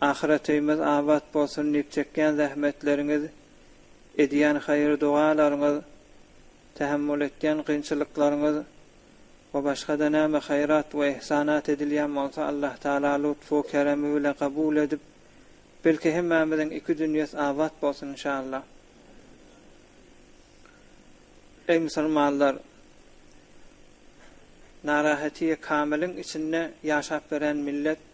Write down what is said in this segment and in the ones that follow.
Ahyretimiz abat bolsun diýip çekýän zähmetleriňiz, edýän haýyr-dogalaryňyz, tähemmül etýän kynçylyklaryňyz we başga-da näme haýrat we ihsanat edilýän bolsa Allah Taala lutfu keremi bilen kabul edip, belki hemmämiziň iki dünýes abat bolsun inşallah. Eý musulmanlar! Narahetiye kamiliň içinde ýaşap beren millet.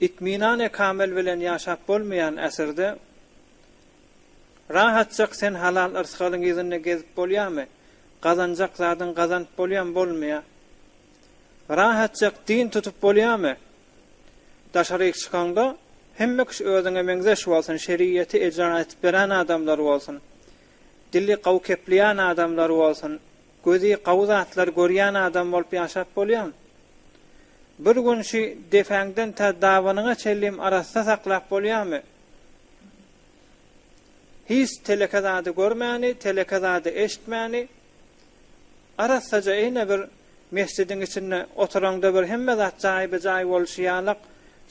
Itminane kamil bilen ýaşap bolmaýan äsirde rahatjak sen halal yrsgalyň yzynda gezip bolýamy? Gazanjak zadyň gazanyp bolýamy? Bolmaýa. Rahatjak din tutup bolýamy? Daşaryk çykaňda hemme kişi özüňe meňzeş bolsun, şeriýeti ejra etip beren adamlar bolsun, dili gawy kepleýän adamlar bolsun, Gözi gawy zatlar görýän adam bolup ýaşap bolýamy? Bir gün şü depäňden tä dabanyňa çenlim arassa saklap bolýamy? Hiç teleke zady görmäni, teleke zady eşitmäni, arassaja eýne bir mesjidiň içinde oturaňda bir hemme zat jaýbe-jaý bolşy ýalak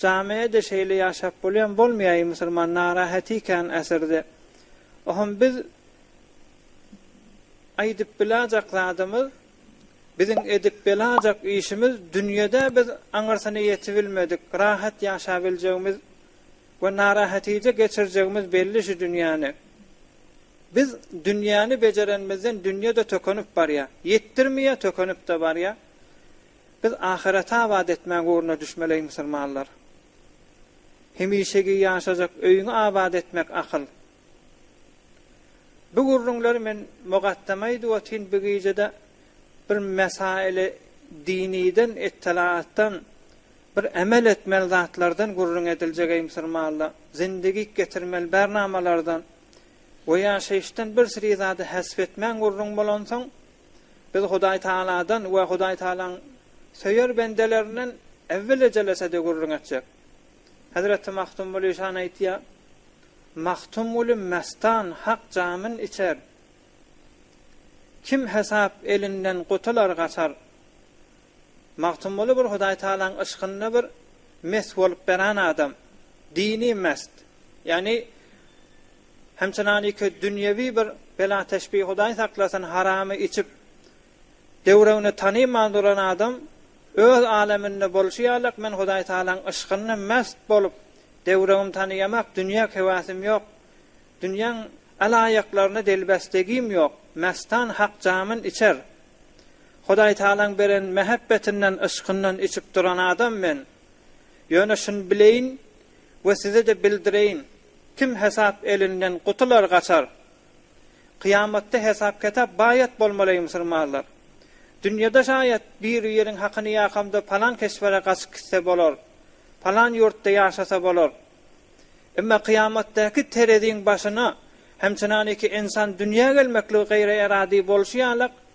jamiä-de şeýle ýaşap bolýamy? Bolmaýaý musulman narahat ikäni äsirde. Oham biz Aýdyp bilajak zadymyz, biziň edip belajak işimiz dünýede biz aňyrsyny ýetibilmedik, rahat ýaşabiljegimiz we narahatije geçirjegimiz belli şu dünýäni. Biz dünýäni bejerenimizden dünýe-de tökenip barýa, ýetdirmeýä tökenip-de barýa. Biz ahyreti abat etmäň ugruna düşmeli eý musulmanlar. Hemişegi ýaşajak öýüňi abat etmek akyl. Bu gürrüňleri men Mugaddam aýdyp otyryn bu gijede bir mesaýyly diniden ettelaatdan bir emel etmeli zatlardan gürrüň ediljegeý musurmanda zindigik getirmeli bärnamalardan we ýaşaýyşdan bir siri zady hasp etmän gürrüň bolansoň biz Hudaý Tagaladan we Hudaý Tagalaň söýer bendelerinden äwwel ejelesede gürrüň etjek Hezreti Magtymguly şany aýtýar, Magtymguly mestan hak jamyn içer, Kim hesap elinden gutular gaçar. Magtymguly bir Hudaý Tagalaň yşkynda bir mes bolup beran adam. Dini mest. Ýagny hem çynaniki dünýewi bir bela teşbi Hudaý saklasyn haramy içip Döwrebini tanyman duran adam öz aleminde bolşy ýalyk men Hudaý Tagalaň yşkynda mäst bolup, döwrebimi tanyýamak dünýä höwäsim ýok, dünýäň alaýyklaryna delbesligim ýok, mästan hak jamyn içer. Hudaý Tagalaň beren mähebbetinden, yşkyndan içip duran adam men. Ýöne şuny bileýin we size-de bildireýin, kim hesap elinden gutular gaçar. Kyýamatda hesap-ketap baýat bolmaly eý musulmanlar. Dünýede şaýat biri ýeriň hakyny ýakamda palan keşbere gaçyp gitse bolar, palan ýurtda ýaşasa bolar. Emma kyýamatdaky tereziň başyna hem çynaniki ensan dünýä gelmekligi gaýry eradi bolşy ýalak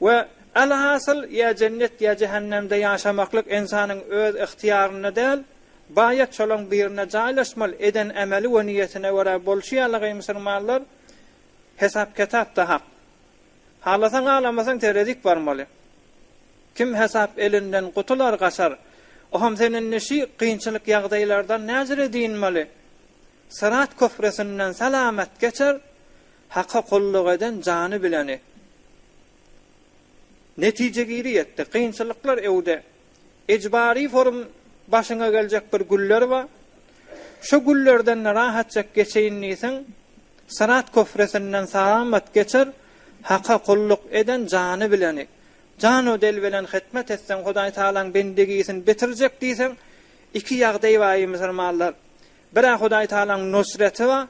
We, alhasyl, ýa jennet, ýa jähennemde ýaşamaklyk ynsanyň öz ygtyýarynda däl, baýat şolaň birinde jaýlaşmaly, eden emeli we niýetine görä bolşy ýaly gyý musurmanlar, hesap-ketapda hak. Halasaň halamasaň terezik barmaly. Kim hesap elinden gutular gaçar. Oham sen indi şy gynçylyk ýagdaýlardan näjire dynmaly. Syrat köprüsinden salamat geçer, Haka gulluk eden jany bileni. Netije giri ýetdi. Kynçylyklar öwde. Ejbari forum başyňa geljek bir güller ba. Şo güllerden rahatjak geçeýin diýseň, Syrat köprüsinden salamat geçer, Haka gulluk eden jany bileni. Jan we del bilen hytmat etseň Hudaý Tagalaň bendegisin bitirjek diýseň, iki ýagdaý ba eý musulmanlar. Bir-ä Hudaý Tagalaň nusreti ba,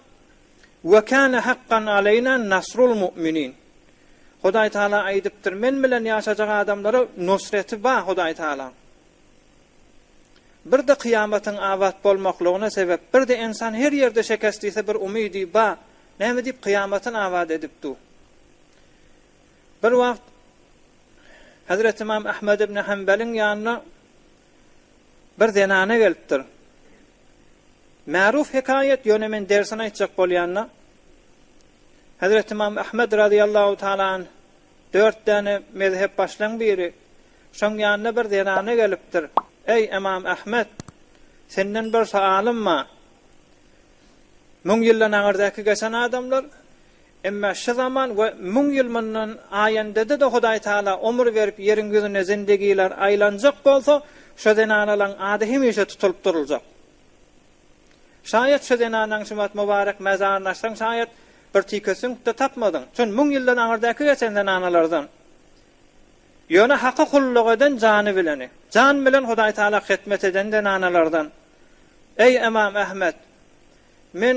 Ve kâne hakkan aleýna nasrul mu'minin. Hudaý Taala aýdypdyr, Men bilen ýaşajak adamlara nusreti bar Hudaý Taalaň. Bir-de kyýamatyň abat bolmaklygyna sebep, bir-de ensan her ýerde şekest iýse bir umydy bar, näme diýip kyýamatyny abat edip dur. Bir wagt Hazreti Imam Ahmad ibn Hanbeliň ýanyna Bir zenana gelipdir. Märuf hekaýat ýöne men dersini aýtjak bolýanda Hezreti Imam Ahmed razyýallahu taala anh dört däne mezhep başlaň biri. Şoň ýanyna bir zenana gelipdir. Eý Imam Ahmed! Senden bir soalym bar. Müň ýyldan agyrdaky geçen adamlar Emma şu zaman we müň ýyl mundan aýandada-da Hudaý Tala omur berip ýeriň ýüzüne zindigiler aýlanjak bolsa, şo zenanalaň ady hemişe tutulyp duruljak. Şaýat şo zenanaň şumat mubarek mazaryny açsaň şaýat bir tike süňk-de tapmadyň. Çün müň ýyldan aňyrdäki geçen zenanalardan. Ýöne Haka kulluk eden jany bileni. Jan bilen Hudaý Tala hytmet eden zenanalardan. Eý Emam Ahmet! Men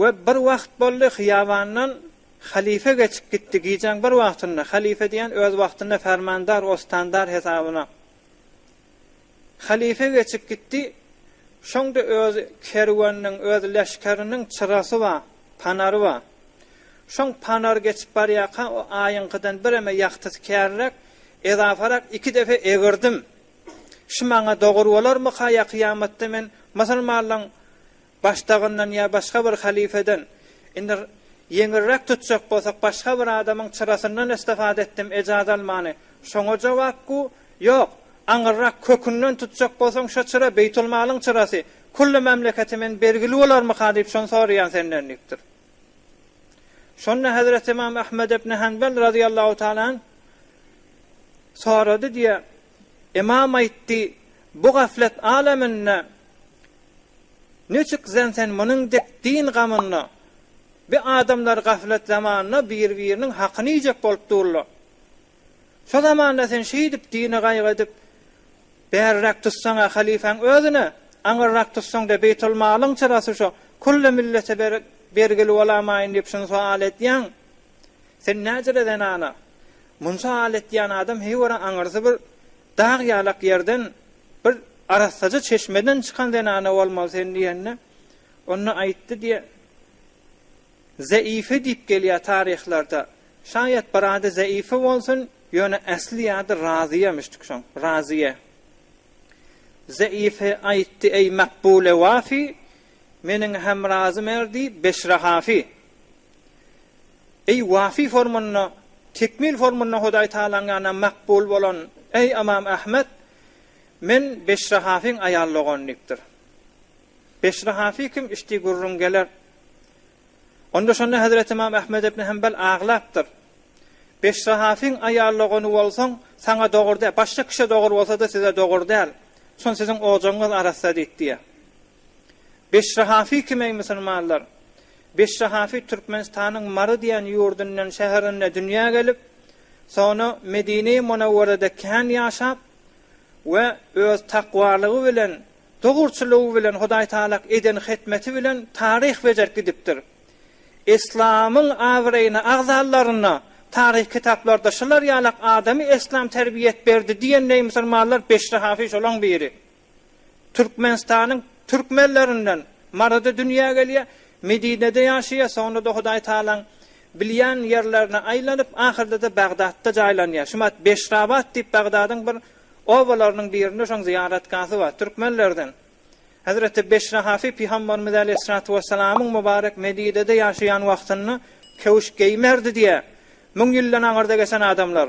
We bir wagt boldy, hyýabandan halypa geçip gitdi, gijäň bir wagtynda, halypa diýen öz wagtynda fermandar, ostandar hesabyna halypa geçip gitdi, şoňda öz kerweniniň, öz leşgeriniň çyrasy bar, panary bar. Şoň panar geçip barýarka, o aýyňkydan bireme ýagtysy kärräk, ezafarak iki depe egirdim. Şu maňa dogur bolarmyka, ýa kyýamatda men musulmanlaň Başdagyndan ýa başga bir halyfeden, indi ýeňilräk tutjak bolsak başga bir adamyň çyrasyndan istifada etdim ejaz almany, şoňa jogap gu, ýok, aňyrrak kökünden tutjak bolsaň şo çyra beýtulmalyň çyrasy, kulli mamleketi men bergili bolarmyka diýip şony soraýan senden diýipdir. Şonda Hezreti Ymam Ahmed ibn Hanbal razyýallahu taala anh sorady diýýär, Ymam aýtdy, Bu gaflet aleminde niçik sen sen munuň dek din gamynda bi adamlar gaflet zamanda bir biriniň hakyny iýjek bolup durla. Şo zamanda sen şeýdip dini gaýgy edip bäriräk tutsaňa halyfaň özüne aňyrrak tutsaňda beýtul malyň çyrasy şo kulli millete bergili bolamaýyn diýip şuny soal edýäň. Sen näjire zenana. Munça al etýän adam heý görä aňyrsy bir dag ýalak ýerden, bir arassaja çeşmeden çykan zenana bolmaly sen diýende, onda aýtdy diýe, Zeýfe diýip gelýär taryhlarda. Şaýat bir ady Zeýfe bolsun, ýöne äsli ýady Razyýemişdik şoň, Razyýe. Zeýfe aýtdy, Eý Makbule Wafi, meniň hem Razy Merdi, Beşre Hafi. Eý, wafi formanda, tekmil formanda Hudaý Tagalaň ýanyna makbul bolan, eý, Ymam Ahmet, Men Beşrahafyň aýal dogany diýipdir. Beşrahafy kim içdi gürrüň geler. Onda şonda Hezreti Ymam Ahmet ibn Hanbal aglapdyr. Beşrahafyň aýal dogany bolsaň, saňa dogur däl, başga kişä dogur bolsa-da size dogur däl. Şon siziň ojagyňyz arassa diýip diýer. Beşri Hafi kim eý musulmanlar? Beşri Hafi Türkmenistanyň Mary diýen ýurdundan, şäherinde dünýä gelip, soňra Medine-i Munawwarada kän ýaşap we öz takwalygy bilen, dogruçylygy bilen, Hudaý Tagalak eden hytmeti bilen taryh bejerip gidipdir. Eslamyň abraýyny agzalaryna taryh kitaplarda şular ýalak adamy eslam terbiýet berdi diýen eý musulmanlar Beşri Hafi şolaň biri. Türkmenistanyň türkmenlerinden Marada dünýä gelýär, Medinede ýaşaýar, soňra-da Hudaý Tagalaň bilýän ýerlerine aýlanyp, ahyrda-da Bagdatda jaýlanýar. Şu wagt Beşrabat diýip Bagdadyň bir obalarynyň birinde şoň zyýaratgahasy bar. Türkmenlerden Hezreti Beşrahafy Pygamberimiz Aleýhissalatu Wessalamyň Mübarek Medinede ýaşaýan wagtynda köwüş geýmerdi diýýär. Müň ýyldan aňyrda geçen adamlar.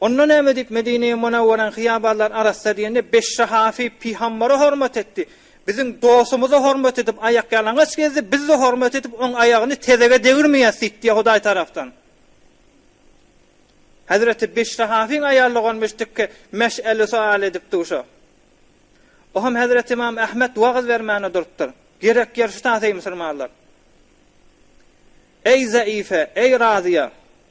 Onda näme diýip Medine-i Munawwaraň hyýabanlaryny arassa diýende beş sahabi Pygambere hormat etdi. Biziň dostumyza hormat edip aýakýalaňaç gezdi, biz-de hormat edip oň aýagyny tezege degirmeýäs diýdi diýe Hudaý tarapdan. Hezreti beş sahabiň aýaly dogan müşdikki meş'eli sual edip duşa. O hem Hezreti Imam Ahmet wagyz bermäne durupdyr. Gerek ýer şutat eý musulmanlar. Eý Zaife, eý Raziýa!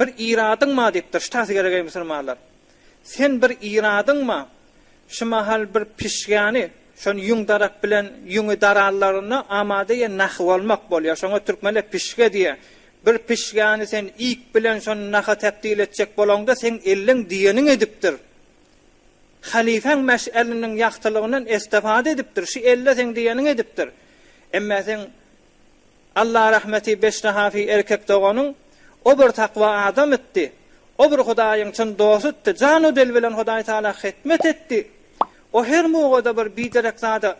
Bir iradyňma diýipdir, ştasy gerek eý musulmanlar. Sen bir iradyňma, şu mahal bir pişgäni, şony ýüň darap bilen ýüňi darallarynda amada ýe nahy bolmak bolýar, şoňa türkmenler pişge diýýär. Bir pişgäni sen iýip bilen şony naha tebdil etjek bolaňda seň elleň diýeniňi edipdir. Halyfaň meş'eliniň ýagtylygyndan estefada edipdir, şu elle seň diýeniňi edipdir. Emmä seň Alla rahmeti beşnahafi erkek doganyň o bir takwa adam itdi, o bir Hudaýyň çyn dostutdy, jan u del bilen Hudaý Taala hytmet etdi, o her mowgada bir biderek zada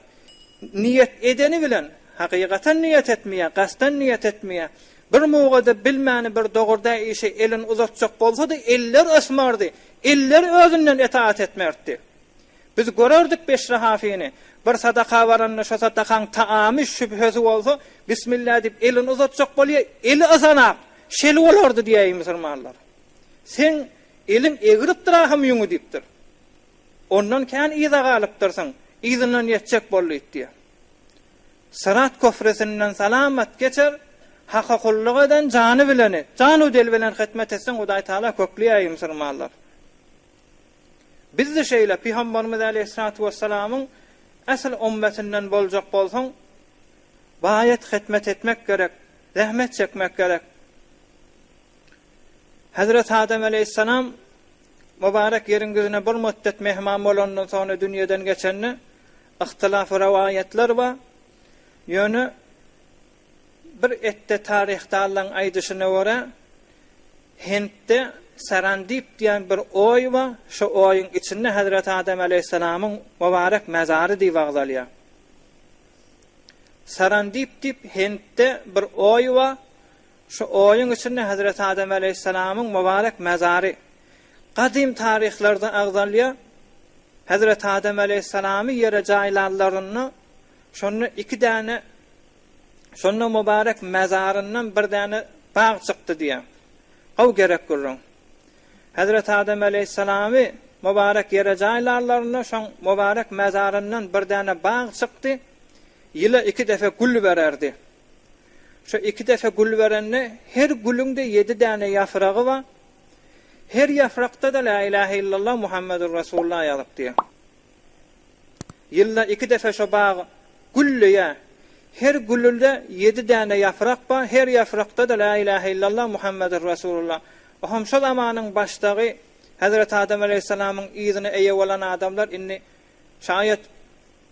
niýet edeni bilen, hakykatan niýet etmeýär, gasdan niýet etmeýär, bir mowgada bilmäni bir dogurdaý işe elin uzatjak bolsady, eller ysmardy, eller özünden etaat etmertdi. Biz görerdik Beşri Hafyny. Bir sadaka baranda şo sadakaň taamy, şübhesi bolsa, Bismillah diýip elini uzatjak bolýar, eli yzanak. Şeli bolardy diýäýi musulmanlar. Seň eliň egripdir ahym ýüňi diýipdir. Ondan kän yza galypdyrsyň, yzyndan ýetjek bol diýip diýýär. Syrat köprüsinden salamat geçer, Haka gulluk eden jany bileni, janu-del bilen hytmat etseň Hudaý Taala kökleýäýi musulmanlar. Biz-de şeýle, Pygamberimiz aleýhissalatu wessalamyň ähli ummetinden boljak bolsaň, baýat hytmet etmek gerek, zähmet çekmek gerek. Hezreti Adam aleýhissalam mubarek ýeriň ýüzüne bir muddet mehman bolandan soňra dünýeden geçende, ihtilafy rowaýatlar bar. Ýöne Bir etde taryhdallaň aýdyşyna görä, Hintde Serandip diýen bir oý bar, şo oýuň içinde Hezreti Adam aleýhissalamyň mubarek mezary diýip agzalýar. Serandip diýip Hintde bir oý bar, şo oýuň içinde Hezreti Adam aleýhissalamyň mubarek mezary. Gadym taryhlarda agzalýar, Hezreti Adam aleýhissalamy ýere jaýlanlarynda Şonda iki däne Şonda Mubarek mezaryndan bir däne bag çykdy diýýär. Gowy gerek gürrüň. Hezreti Adam aleýhissalamy Mubarek ýere jaýlarlarynda şoň Mubarek mezaryndan bir däne bag çykdy, ýyla iki defe gül bererdi. Şo iki defe gül berende her gülüň-de ýedi däne ýafragy bar, her ýafrakda-da Lä ilähe illallah Muhammedur Resulullah ýazypdy. Ýylda iki defe şo bag gülleýär. Her gülülde ýedi däne ýaprak bar, her ýaprakda-da Lä ilähe illallah Muhammedur Resulullah. Oham şo zamanyň başdagy Hezreti Adam aleýhissalamyň yzyna eýe bolan adamlar indi şaýat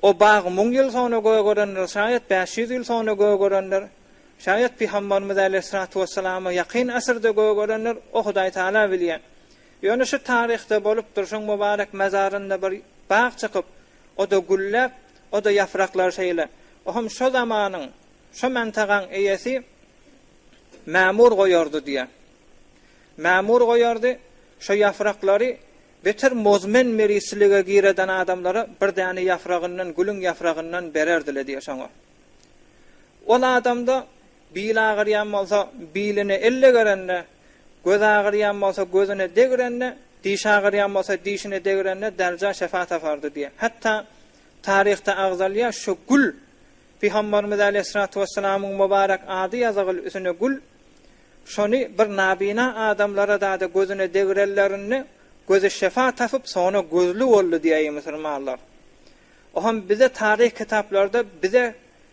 o bag müň ýyl soňra gögerendir, şaýat bäş ýüz ýyl soňra gögerendir, şaýat Pygambarymyz äleyhissalatu wessalama ýakyn asyrda gögerendir, o Hudaý Taala bilýär. Ýöne şu taryhda bolup durşuň mubarek mezarynda bir bag çykyp, o-da gülläp, o-da ýapraklary şeýle. Ohem şo zamanyň, şo mantagaň eýesi Mämur goýardy diýýär. Mämur goýardy, şo ýapraklary beter mozmen mirisçilige gireden adamlara bir däne ýapragyndan, gülüň ýapragyndan bererdi-le diýýär şoňa. Ol adamda Bil agyrýan bolsa, biline elle gerende, göz agyrýan bolsa, gözüne degrende, diş agyrýan bolsa, dişine degrende dälja şefa tapardy diýýär. Hatda taryhda agzalýar, şu gül, Pygamberimiz äleyhyssalatu wesselamyň mubarek ady ýazygyl üsüne gül, şony bir nabyna adamlara dada gözüne degrenlerinde gözi şefa tapyp, soňra gözli boldy diýýär, eý, musulmanlar! Oham bize taryh kitaplarda bize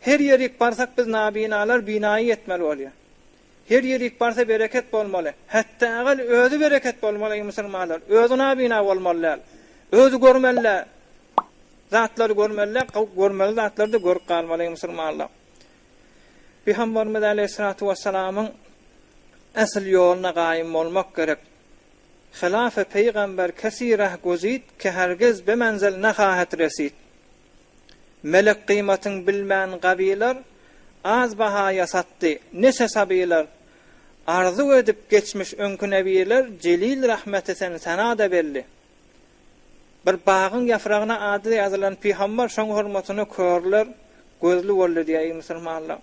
Her ýerik barsak biz nabinalar binaýy etmeli bolýa. Her ýerik barsa bereket bolmaly. Hetda agal özi bereket bolmaly eý musulmanlar. Özi nabina bolmaly däl. Özi görmeli zatlary görmeli däl, görmeli zatlary-da görüp galmaly eý musulmanlar. Pygamberimiz aleýhissalatu wessalamyň esl ýoluna gaýym bolmak gerek. Hylafe peýgamber kesirah guzit ke hergiz be menzil nahahet resit. Melek gymatyn bilmän gabylar, Az bahaýa satdy, neçe sabylar. Arzuw edip geçmiş öňki nebirler, Jelil rahmeti sen sana-da belli. Bir bagyň ýafragyna ady ýazylan pyham bar, şoň hormatyna körler gözli boldy diýýär, eý musulmanlar!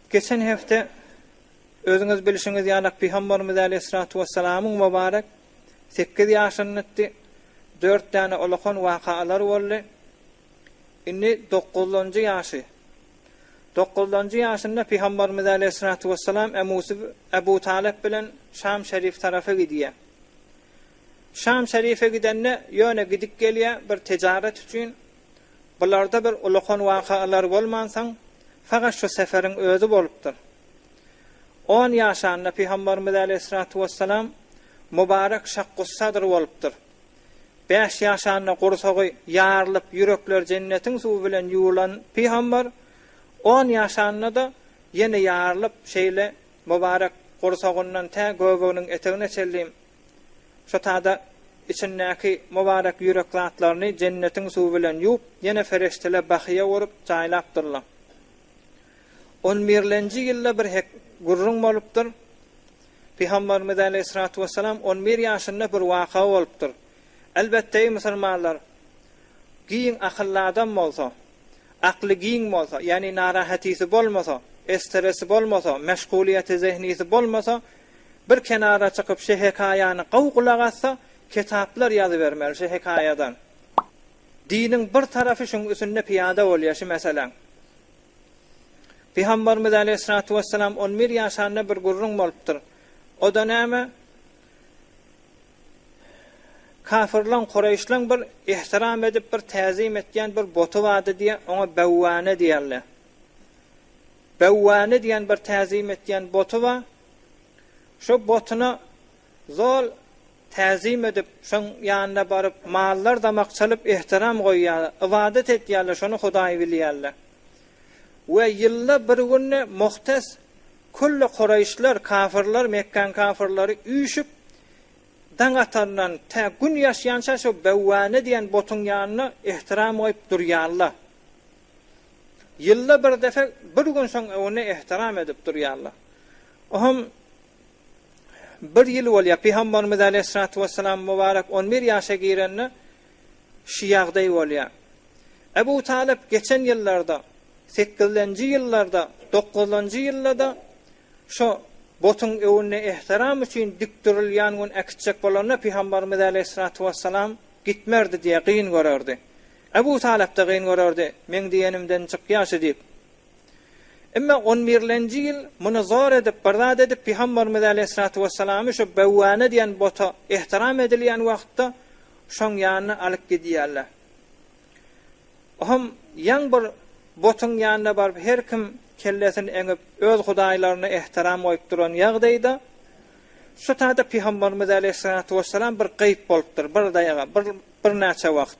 Geçen hepde özüňiz bilşiňiz ýalak pyhambarymyz äleyhissalatu wessalamyň mubarek sekiz ýaşyndykdy, dört däne olakan waka alar boldy, indi dokuzlanjy ýaşy. Dokuzlanjy ýaşynda Pygambarymyz aleýhissalatu wessalam emmusy Ebu Talyp bilen Şam şerif tarapa gidýär. Şam şerife gidende ýöne gidip gelýär bir tejaret üçin, bularda bir olakan waka alar bolmansoň, fagat şu seferiň özi bolupdyr. On ýaşanda Pygambarymyz äleýhissalatu wessalam Mubarek Şakkussadr bolupdyr. Bäş ýaşanda gursagy ýarylyp ýürekleri jennetiň suwy bilen ýuwulan Pygambar on ýaşanda-da ýene ýarylyp şeýle Mubarek gursagyndan tä göbeginiň etegine çenli şo tada içindäki Mubarek ýürek zatlaryny jennetiň suwy bilen ýuwup ýene fereşteler bahýa urup jaýlapdyrlar. On birlenji ýylda bir hek gürrüň bolupdyr. Pygamberimiz aleýhissalatu wessalam on bir ýaşynda bir waka bolupdyr. Elbetde, eý musulmanlar, giň akylly adam bolsa, akly giň bolsa, ýagny narahatisi bolmasa, estresi bolmasa, meşgulyýeti zehnisi bolmasa, bir kenara çykyp şe hekaýany gowy gulak assa, ketaplar ýazybermeli şe hekaýadan. Diniň bir tarapy şuň üsünde pyýada bolýar şi meseläň. Pygamberimiz aleýhissalatu wessalam on bir ýaşanda bir gürrüň bolupdyr. O-da näme? Kafirleň, Kureýşleň bir ihtiram edip, bir täzim etýän bir boty bardy diýýär, oňa Bewwäne diýerler. Bewwäne diýen bir täzim etýän boty bar. Şo botuna zol täzim edip, şoň ýanyna baryp, mallar damak çalyp ehtiram goýýarlar, ybadat etýärler, şony Hudaý bilýärler. We ýylda bir günde muhtes külli kuraýyşlar, kafyrlar, Mekgäň kafyrlary üýşüp, daň atandan tä gün ýaşýança şo Bewwäne diýen butuň ýanyna ehtiram goýup durýarlar. Ýylda bir depe, bir gün şoň öňünde ehtiram edip durýarlar. O hem Bir ýyl bolýar, Pygambarymyz aleýhissalatu wessalam mübarek on bir ýaşa girende şu ýagdaý bolýar. Ebu Talyp geçen ýyllarda, sekizlenji ýyllarda, dokuzlanjy ýylda-da şo butuň öwünde ehtiram üçin dikdürilýän gün äkitjek bolanda Pygambarymyz aleýhissalatu wessalam gitmerdi diýýär, gyn görerdi. Ebu Talyp-da gyn görerdi, meň diýenimden çykýar şu diýip. Emma on birlenji ýyl muny zor edip, bir zat edip, Pygamberimiz aleýhissalatu wessalamy şu Bewwana diýen bota ehtiram edilýän wagtda şoň ýanyna alyp gidýärler. Oňam ýaň bir botuň ýanyna baryp her kim kellesini eňip, öz hudaýlaryna ehtiram goýup duran ýagdaýda şu taýda Pygamberimiz aleýhissalatu wessalam bir gaýyp bolupdyr, bir daýaga, bir birnäçe wagt.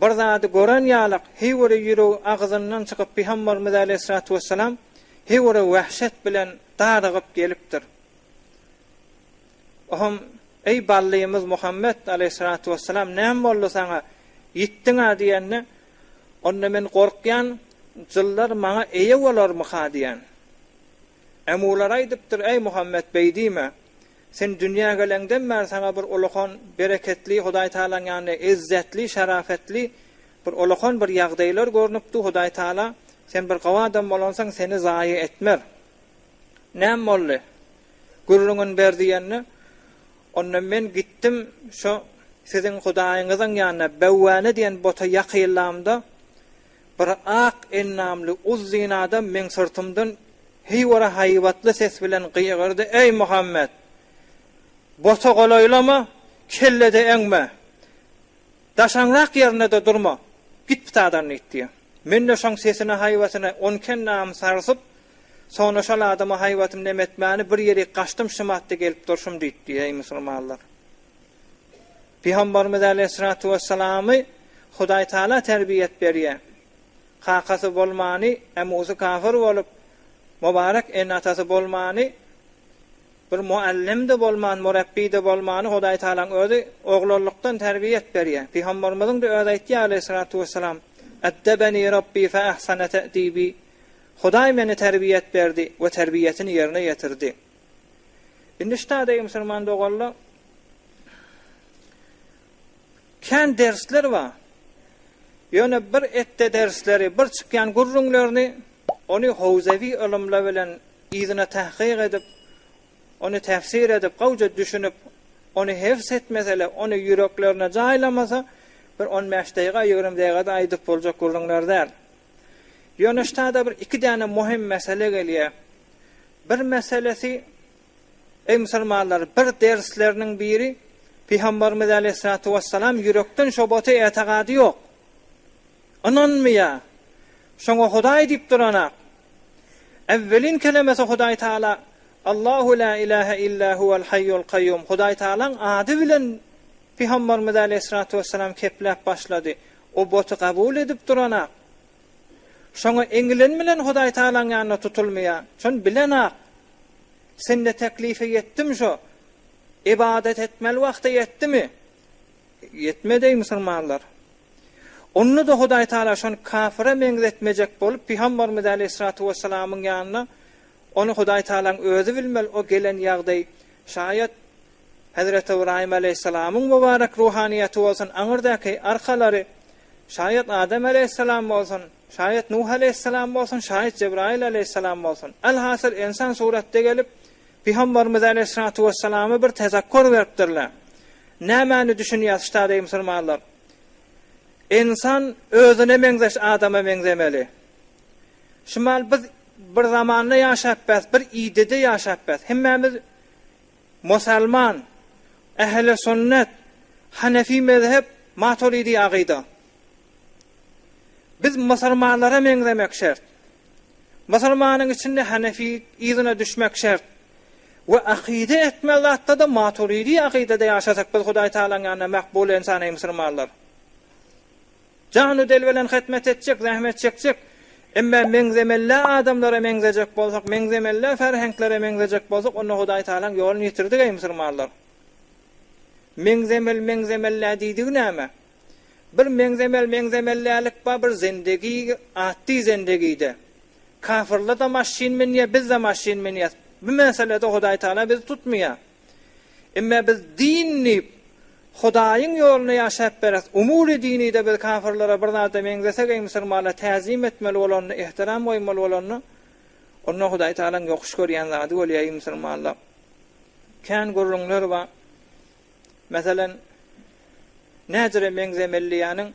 Bir zady gören ýalak Hiwre ýüregi agzyndan çykyp Pygamberimiz aleýhissalatu wessalam Hiwre wähşet bilen darygyp gelipdir. Ohom Eý ballymyz Muhammet aleýhissalatu wessalam näme boldy saňa ýitdiňä diýende onda men gorkýan jyllar maňa eýe bolarmyka diýen. Hem olar aýdypdyr, Eý, Muhammet, beý diýme! Sen dünýä geleňden bäri saňa bir ullakan bereketli, Hudaý Tagalaň ýanynda ezzetli, şarafetli bir ullakan bir ýagdaýlar görnüpdi, Hudaý Tagala, sen bir gowy adam bolansoň, seni zaýa etmer. Näme boldy? Gürrüňini ber diýende, Onda men gitdim, şo siziň Hudaýyňyzyň ýanyna, Bewwäne diýen bota ýakylamda, Bir ak endamly uzyn adam meň syrtymdan hiwara haýbatly ses bilen gygyrdy, Eý, Muhammet! Bota golaýlama, kelle-de eňme. Daşaňrak ýerinde-de durma. Git pytadan diýip diýýär. Men-de şoň sesine-haýbatyna onki-endamym sarsyp, soňra şol adama haýbatym nemetmäni bir ýerik gaçdym, şymatda gelip durşum diýip diýýär, eý, musulmanlar! Pygambarymyz aleýhissalatu wessalamy Hudaý Taala terbiýet berýär. Kakasy bolmany, emusy kafir bolup, mubarek ene-atasy bolmany, bir muallim-de bolman, murepbi-de bolmany Hudaý Taalaň Özi oglanlykdan terbiýet berýär. Pygambarymyzyň-da özi aýtýar aleýhissalatu wessalam, Eddebeni Rabbi fe ahsane te'dibi, Hudaý meni terbiýet berdi we terbiýetini ýerine ýetirdi. Indi şu taýda eý musulman doganlar kän dersler bar. Ýöne bir etde dersleri, bir çykýan gürrüňlerini ony howzewi ylymlar bilen yzyna tahkyk edip, ony tefsir edip, gowja düşünip, ony hefz etmeseler, ony ýüreklerine jaýlamasa, bir on bäş daýga, ýigrimi daýgada aýdyp boljak gürrüňler däl. Ýöne ştada bir iki däne muhim mesele gelýär. Bir meselesi, Eý musulmanlar, bir dersleriniň biri, Pygamberimiz aleýhissalatu wessalam ýürekden şobata etegady ýok. Ynanmaýa. Şoňa Hudaý diýip duranak. Äwwelin kelemesi Hudaý Taala Allahu la ilahe illa huwal haýýul kaýýum Hudaý Taalaň ady bilen Pygamberimiz aleýhissalatu wessalam kepläp başlady. O boty gabul edip duranok. Şoňa eňilen bilen Hudaýtagalaň ýanyna tutulmaýar. Şony bilenok. Sende teklife ýetdim şo. Ybadat etmeli wagty ýetdimi? Ýetmedi eý musulmanlar. Onda-da Hudaýtagala şony kafire meňzetmejek bolup Pygambarymyz äleyhissalatu wessalamyň ýanyna ony Hudaýtagalaň özi bilmeli o gelen ýagdaý şaýat Hezreti Ybraýym aleýhissalamyň mübarek ruhanyýeti bolsun aňyrdaky arkalary, şaýat Adam aleýhissalam bolsun, şaýat Nuh aleýhissalam bolsun, şaýat Jebraýyl aleýhissalam bolsun, alhasyl ynsan suratda gelip, Pygamberimize aleýhissalatu wessalama bir tezekkur beripdirler. Nämäni düşünýär ştadeý musulmanlar? Ynsan özüne meňzeş adama meňzemeli. Şumal biz bir zamanda ýaşap bes, bir idede ýaşap bes. Hemmämiz Musalman, Ähli Sünnet, Hanefi Mezhep, Maturidi Agyda. Biz musulmanlara meňzemek şert. Musulmanyň içinde Hanefi yzyna düşmek şert. We akyda etme zatda-da Maturidi Agydada ýaşasak biz Hudaýtagalaň ýanynda makbul ensan eý musulmanlar. Jany-del bilen hyzmat etjek, zähmet çekjek. Emma meňzemellä adamlara meňzejek bolsak, meňzemellä ferhenklere meňzejek bolsak, onda Hudaý Tagalaň ýoluny ýitirdik, eý, musulmanlar! Meňzemel, meňzemellä diýdigi näme? Bir meňzemel, meňzemellälik bar, bir zendegi, atdy zendegide. Kafirler-de maşyn münýär, biz-de maşyn münýäs. Bu meselede Hudaý Tagala bizi tutmaýar. Emme biz din diýip, Hudaýyň ýolunda ýaşap beris. Umuly dinide biz kafirlere bir zada meňzesek eý musulmanlar täzim etmeli bolanda, ehtiram goýmaly bolanda, onda Hudaý Tagalaň ýokuş görýän zady bolýar eý musulmanlar. Kän gürrüňler bar. Meselen, näcire meňzemeli diýýäniň,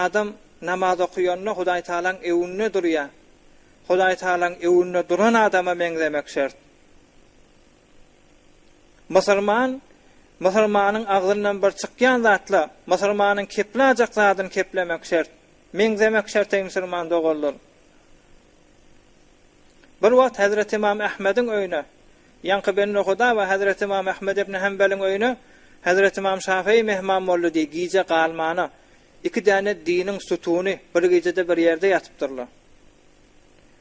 adam namaz okaýanda Hudaý Tagalaň öwünde durýar. Hudaý Tagalaň öwünde duran adama meňzemek şert. Musulman, musulmanyň agzyndan bir çykýan zatla, musulmanyň keplajak zadyny keplemek şert. Meňzemek şert eý musulman doganlar. Bir wagt Hezreti Ymam Ahmediň öýüne, ýaňky Bennohuda we Hezreti Ymam Ahmed ibn Hambeliň öýüne Hezreti Ymam Şafyý mehman boldy diý, gije galmana, iki däne diniň sütuny bir gijede bir ýerde ýatypdyrlar.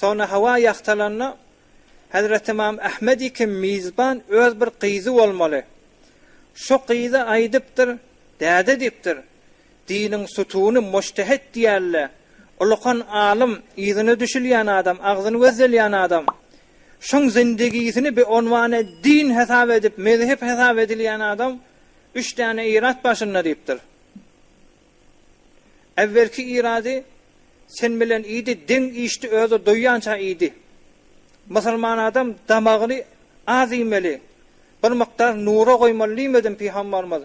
Soňra hawa ýagtalanda, Hezreti Ymam Ahmedi kim mizban öz bir gyzy bolmaly. Şo gyza aýdypdyr, Däde diýipdir, diniň sutuny mujtehet diýerler, ulykan alym, yzyna düşülýän adam, agzyny gözdelýän adam. Şoň zindigisini bi onwane din hesap edip, mezhep hesap edilýän adam üç däne ilat başynda diýipdir. Äwwelki irady sen bilen iýdi, deň iýişdi, özi doýýança iýdi. Musulman adam damagyny az iýmeli, bir mukdar nura goýmaly diýmedimi Pygamberimiz?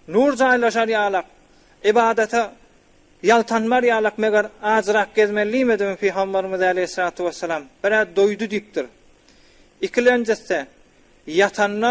Nur jaýlaşar ýalak, ybadata ýaltanmar ýalak meger ajyrak gezmeli diýmedimi Pygamberimiz aleýhissalatu wessalam? Birä doýdy diýipdir. Ikilenjisi, ýatanda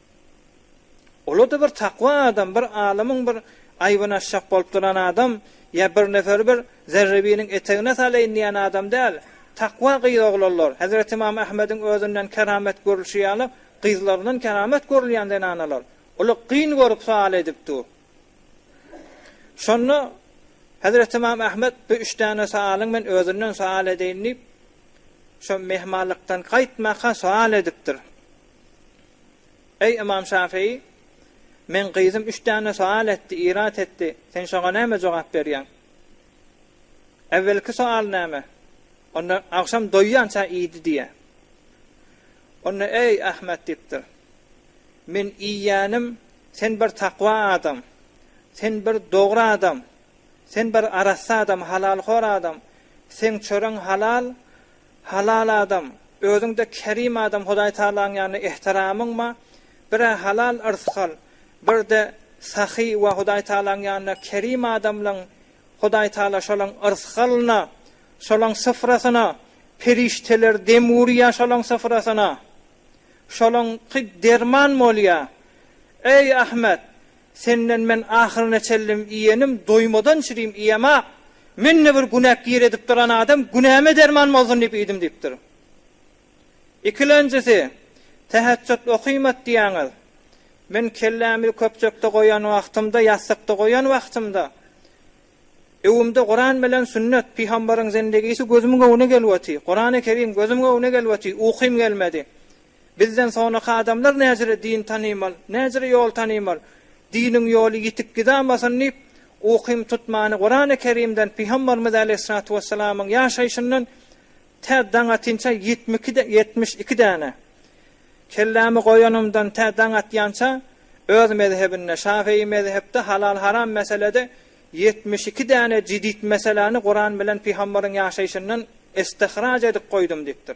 Olarda bir takwa adam, bir alymyň bir aýbyny açjak bolup duran adam ýa bir neferi bir zerrebiniň etegine salaýyn diýen adam däl. Takwa gyz oglanlar, Hezreti Ymam Ahmediň özünden keramet görülşi ýaly gyzlaryndan keramet görülýän zenanalar. Olar gyn görüp sual edip dur. Şonda Hezreti Ymam Ahmet bu üç däne sualyň men özünden sual edeýin diýip, şo mehmanlykdan gaýtmaka sual edipdir. Eý, ymam Şafyý! Meň gyzym üç däne soal etdi, irat etdi, sen şoňa näme jogap berýäň? Äwwelki soal näme? Onda agşam doýýança iýdi diýýä. Onda, eý, Ahmet diýipdir, men iýýänim, sen bir takwa adam, sen bir dogry adam, sen bir arassa adam, halalhor adam, seň çöregiň halal, Halal adam, özüň-de kerim adam Hudaý Tagalaň ýanynda ehtiramyň bar, bir-ä halal yrsy al, bir-de sahy we Hudaý Tagalaň ýanynda kerim adamlaň Hudaý Tagala şolaň yrsy-alyna, şolaň syfrasyna perişdeler dem urýar şolaň syfrasyna. Şolaňky derman bolýar. Eý Ahmet, Senden men ahyryna çellem iýenim doýmadan çirim iýemok. Men-de bir günäk gir edip duran adam günäme derman bolsun diýip iýdim diýipdir. Ikilenjisi, Täheçjut okymat diýýäňiz. Men kellämi köpjekde goýan wagtymda, ýassykda goýan wagtymda, öwümde Kuran bilen sünnet, pygambaryň zendegisi gözümiň öňüne gelip otyr. Kurany Kerim gözümiň öňüne gelip otyr, ukym gelmedi. Bizden soňraky adamlar näjire din tanymal, näjire ýol tanymal, diniň ýoly ýitip gidamasyn diýip, ukym tutmany Kurany Kerimden, Pygambarymyz Aleýhissalatu Wessalamyň ýaşaýşyndan tä daň atynça ýitmikide ýetmiş iki däne. Kellämi goýanymdan tä daň atýança öz mezhebinde, şafeýi mezhepde halal-haram meselede ýetmiş iki däne jidit meseläni Kuran bilen Pygambaryň ýaşaýşyndan istihraç edip goýdum diýipdir.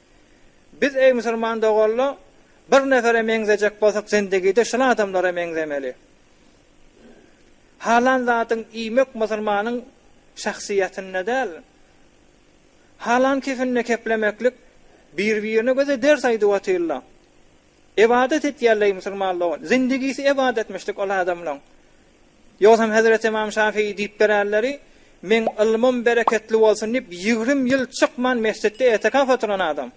Biz eý musulman doganlar bir nefere meňzejek bolsak zindegide şul adamlara meňzemeli. Halan zadyň iýmek musulmanyň şahsyýetinde däl. Halan kifinde keplemeklik bir birine göze ders aýdyp otyrlar. Ybadat etýärleý musulman dogan. Zindigisi ybadatmyşdyk ol adamlaň. Ýogsam hezreti ymam Şafii diýip bererleri, Meň ylmym bereketli bolsun diýip ýigrim ýyl çykman mesjitde etekaf oturan adam.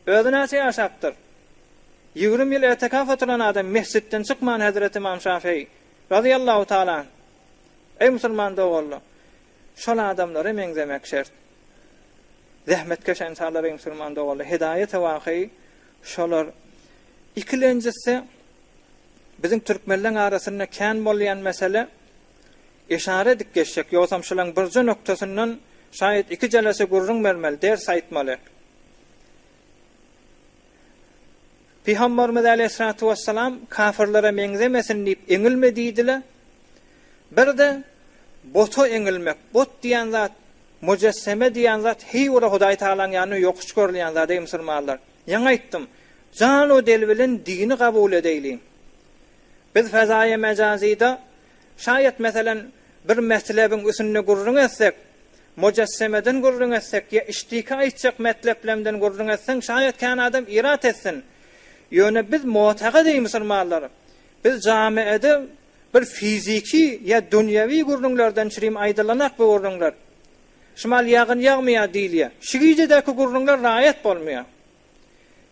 Özi näçe ýaşapdyr? Ýigrim ýyl etekaf oturan adam mesjitden çykman hezreti ymam Şafii, razyýallahu taala anh. Eý musulman doganlar! Şol adamlara meňzemek şert. Zähmetkeş ensalary eý musulman doganlar! Hidaýat-y wakyý Şolar ikilenjisi biziň türkmenleň arasynda kän bolýan mesele. Yşara edip geçsek, ýogsam şulaň birje noktasyndan şaýat iki jelese gürrüň bermeli, ders aýtmaly. Pygambarymyz aleýhissalatu wessalam kafirlere meňzemesin diýip eňilme diýdile. Birde bota eňilmek, bot diýen zat Mujesseme diýen zat heý ora Hudaý Tagalaň ýanynda ýokuş görülýän zat eý musulmanlar. Ýaňy aýtdym. Jan we del bilen dini kabul edeýliň. Biz fezaýy mejazyda şaýat meselem bir metlebiň üsünde gürrüň etsek, mujassemeden gürrüň etsek ýa işdiki aýtjak metleplemden gürrüň etseň şaýat kän adam irat etsin. Ýöne biz motagyd eý musulmanlar. Biz jamiede Bir fiziki ýa dünýewi gürrüňlerden çirim aýdylanak bu gürrüňler. Şmal ýagyn ýagmaýar diýilýär. Şu gijedäki gürrüňler raýat bolmaýar.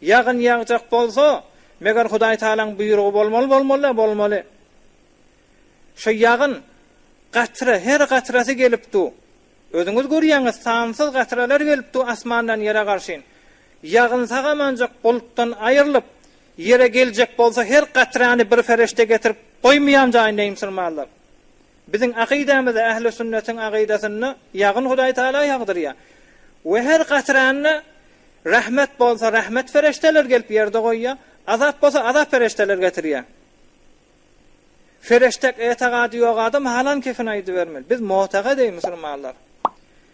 Ýagyn ýagjak bolsa, meger Hudaýtalaň buýrugy bolmaly bolmaly-da bolmaly. Şo ýagyn, gatra, her gatrasy gelip du. Özüňiz görýäňiz, sansyz gatralar gelip du asmandan ýere garşyn. Ýagyn sag-amanjak bulutdan aýrylyp, Ýere geljek bolsa her gatrany bir ferişde getirip goýmaýan jaýynda ýymsyrmarlar. Biziň akydamyzda ähli sünnetiň akydasynda ýagyn Hudaý Tagala ýagdyrýar we her gatranda rahmet bolsa rahmet ferişdeler gelip ýerde goýýar, azap bolsa azap ferişdeler getirýär. Ferişdek etegady ýok adam halan kefini aýdybermeli. Biz motagadeý musulmanlar.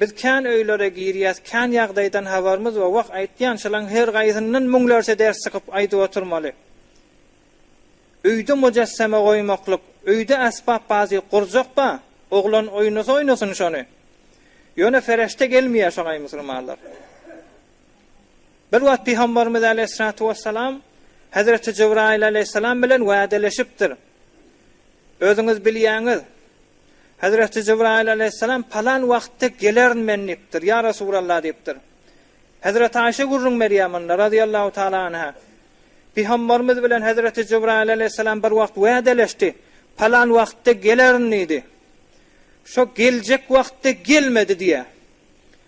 Biz kän öýlere girýäs, kän ýagdaýdan habarymyz bar. Wah, aýtýan, şalaň her gaýsyndan müňlerçe ders çykyp aýdyp oturmaly. Öýde mujesseme goýmaklyk, öýde äsbap bazy gurjak ba, oglan oýnasa oýnasyn şony. Ýöne fereşde gelmeýär şoňaý musulmanlar. Bir wagt pygambarymyz aleýhissalatu wessalam hezreti Jybraýyl aleýhissalam bilen wädeleşipdir. Özüňiz bilýäňiz, Hezreti Jibraýyl alaýhyssalam palan wagtda gelerin men diýipdir. Ýa Resulallah diýipdir. Hezreti Aýşe gürrüň berýär munda razyýallahu taala anha. Pygamberimiz bilen Hezreti Jibraýyl alaýhyssalam bir wagt wädeleşdi. Palan wagtda gelerin diýdi. Şo geljek wagtda gelmedi diýýär.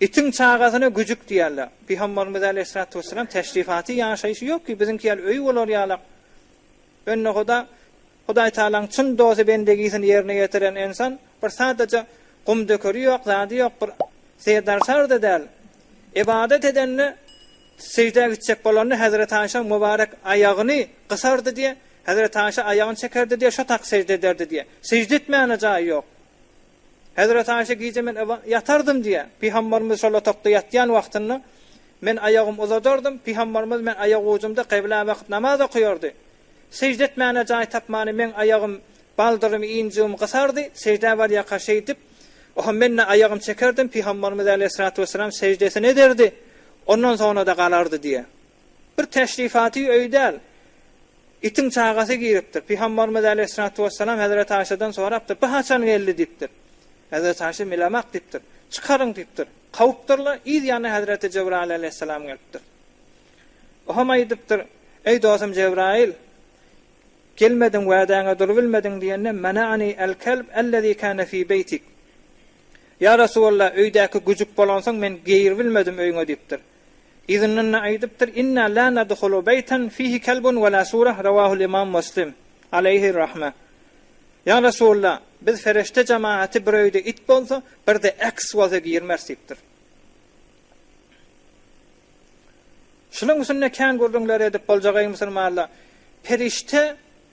Itiň çagasyna güjük diýerler. Pygamberimiz aleýhissalatu wesselam teşrifaty, ýaşaýşy ýok ki, biziňki ýaly öýi bolar ýalak. Öňdehoda Hudaý Taalaň çyn dosty bendegisini ýerine ýetiren ensan bir sadaja gumdökeri ýok, zady ýok, bir serdarsar-da däl. Ybadat edende sejdä gitjek bolanda Hezreti Aýşaň mubarek aýagyny gysardy diýe, Hezreti Aýşa aýagyny çekerdi diýe, şo tak sežde ederdi diýe. Sežde etmäne jaýy ýok. Hezreti Aişe gije men yba, ýatardym diýýär. Pygamberimiz şol otagda ýatýan wagtynda men aýagymy uzadardym, pygamberimiz men aýak ujumda kyblä bakyp namaz okaýardy. Sežde etmäne jaý tapmany meň aýagym baldyrymy ýnjygymy gysardy, seždä barýaka şeýdip oho menne aýagym çekerdim, pygamberimiz äleyhissalatu wesselam seždesini ederdi, ondan soňra-da galardy diýýär. Bir teşrifaty öý däl, itiň çagasy giripdir. Pygamberimiz aleýhissalatu wessalam hezreti Aýşadan sorapdyr, Bu haçan geldi? diýipdir. Hezreti Aýşa Milamak diýipdir. Çykaryň diýipdir. Kowupdyrlar, yz ýanyna hezreti Jebraýyl aleýhissalam gelipdir. Ohem aýdypdyr, Eý dostum Jebraýyl, gelmediň, wädäňe durubilmediň diýende, Mana'ani al-kalb allazi kana fi beýtik. Ýa Resulallah, öýdäki güjük bolansoň men giribilmedim öýüňe diýipdir. Yzyndan-da aýdypdyr, Inna la nadhulu beýten fihi kelbun we la surah, Rawahul Imam Muslim, Aleýhi rahme. Ýa Resulalla, biz ferişde jemagaty bir öýde it bolsa, bir-de eks bolsa girmeris diýipdir. Şunuň üstünde kän gürrüňler edip boljak eý musulmanlar, perişde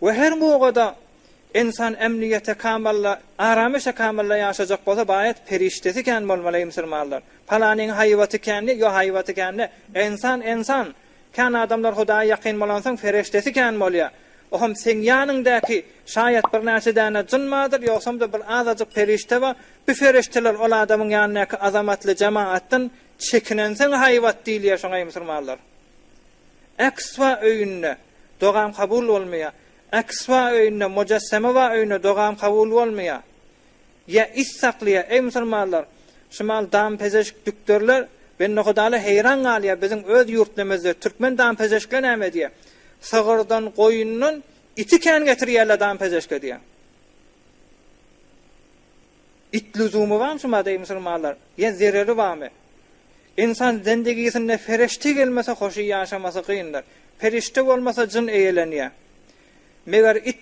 we her goga-da ensan emnigete kamalla, arameşe kamalla ýaşajak bolsa baýat perişdesi kän bolmaly eý musulmanlar. Palanyň haýbaty kändi, ýo haýbaty kändi, ensan ensan, kän adamlar hudaýa ýakyn bolansoň fereşdesi kän bolýa. Oham seň ýanyňdaky şaýat bir näçe däne jyn bardyr, ýogsamda bir azajyk perişde bar, bu fereşdeler ol adamyň ýanyndaky azamatly jemaatdan çekinensoň haýbat diýilýär şoňa eý musulmanlar. Ekswa öýünde dogam kabul bolmaýar. Ekswa öýünde, Mojassemewa öýünde dogam kabul bolmaýar. Ýa it saklaýar. Eý musulmanlar, şu maal dampezeşk dükderler bendehudalar heýran galýar, biziň öz ýurtnemizde türkmen dampezeşkler näme edýär? Sygyrdan, goýundan iti kän getirýärler dampezeşke diýýär. It lüzumy bamy şuňa deý musulmanlar? Ýa zereri bamy? Ynsan zendigisinde perişte gelmese hoşy ýaşamasy kyndyr. Perişte bolmasa jyn eýelenýär. Meger it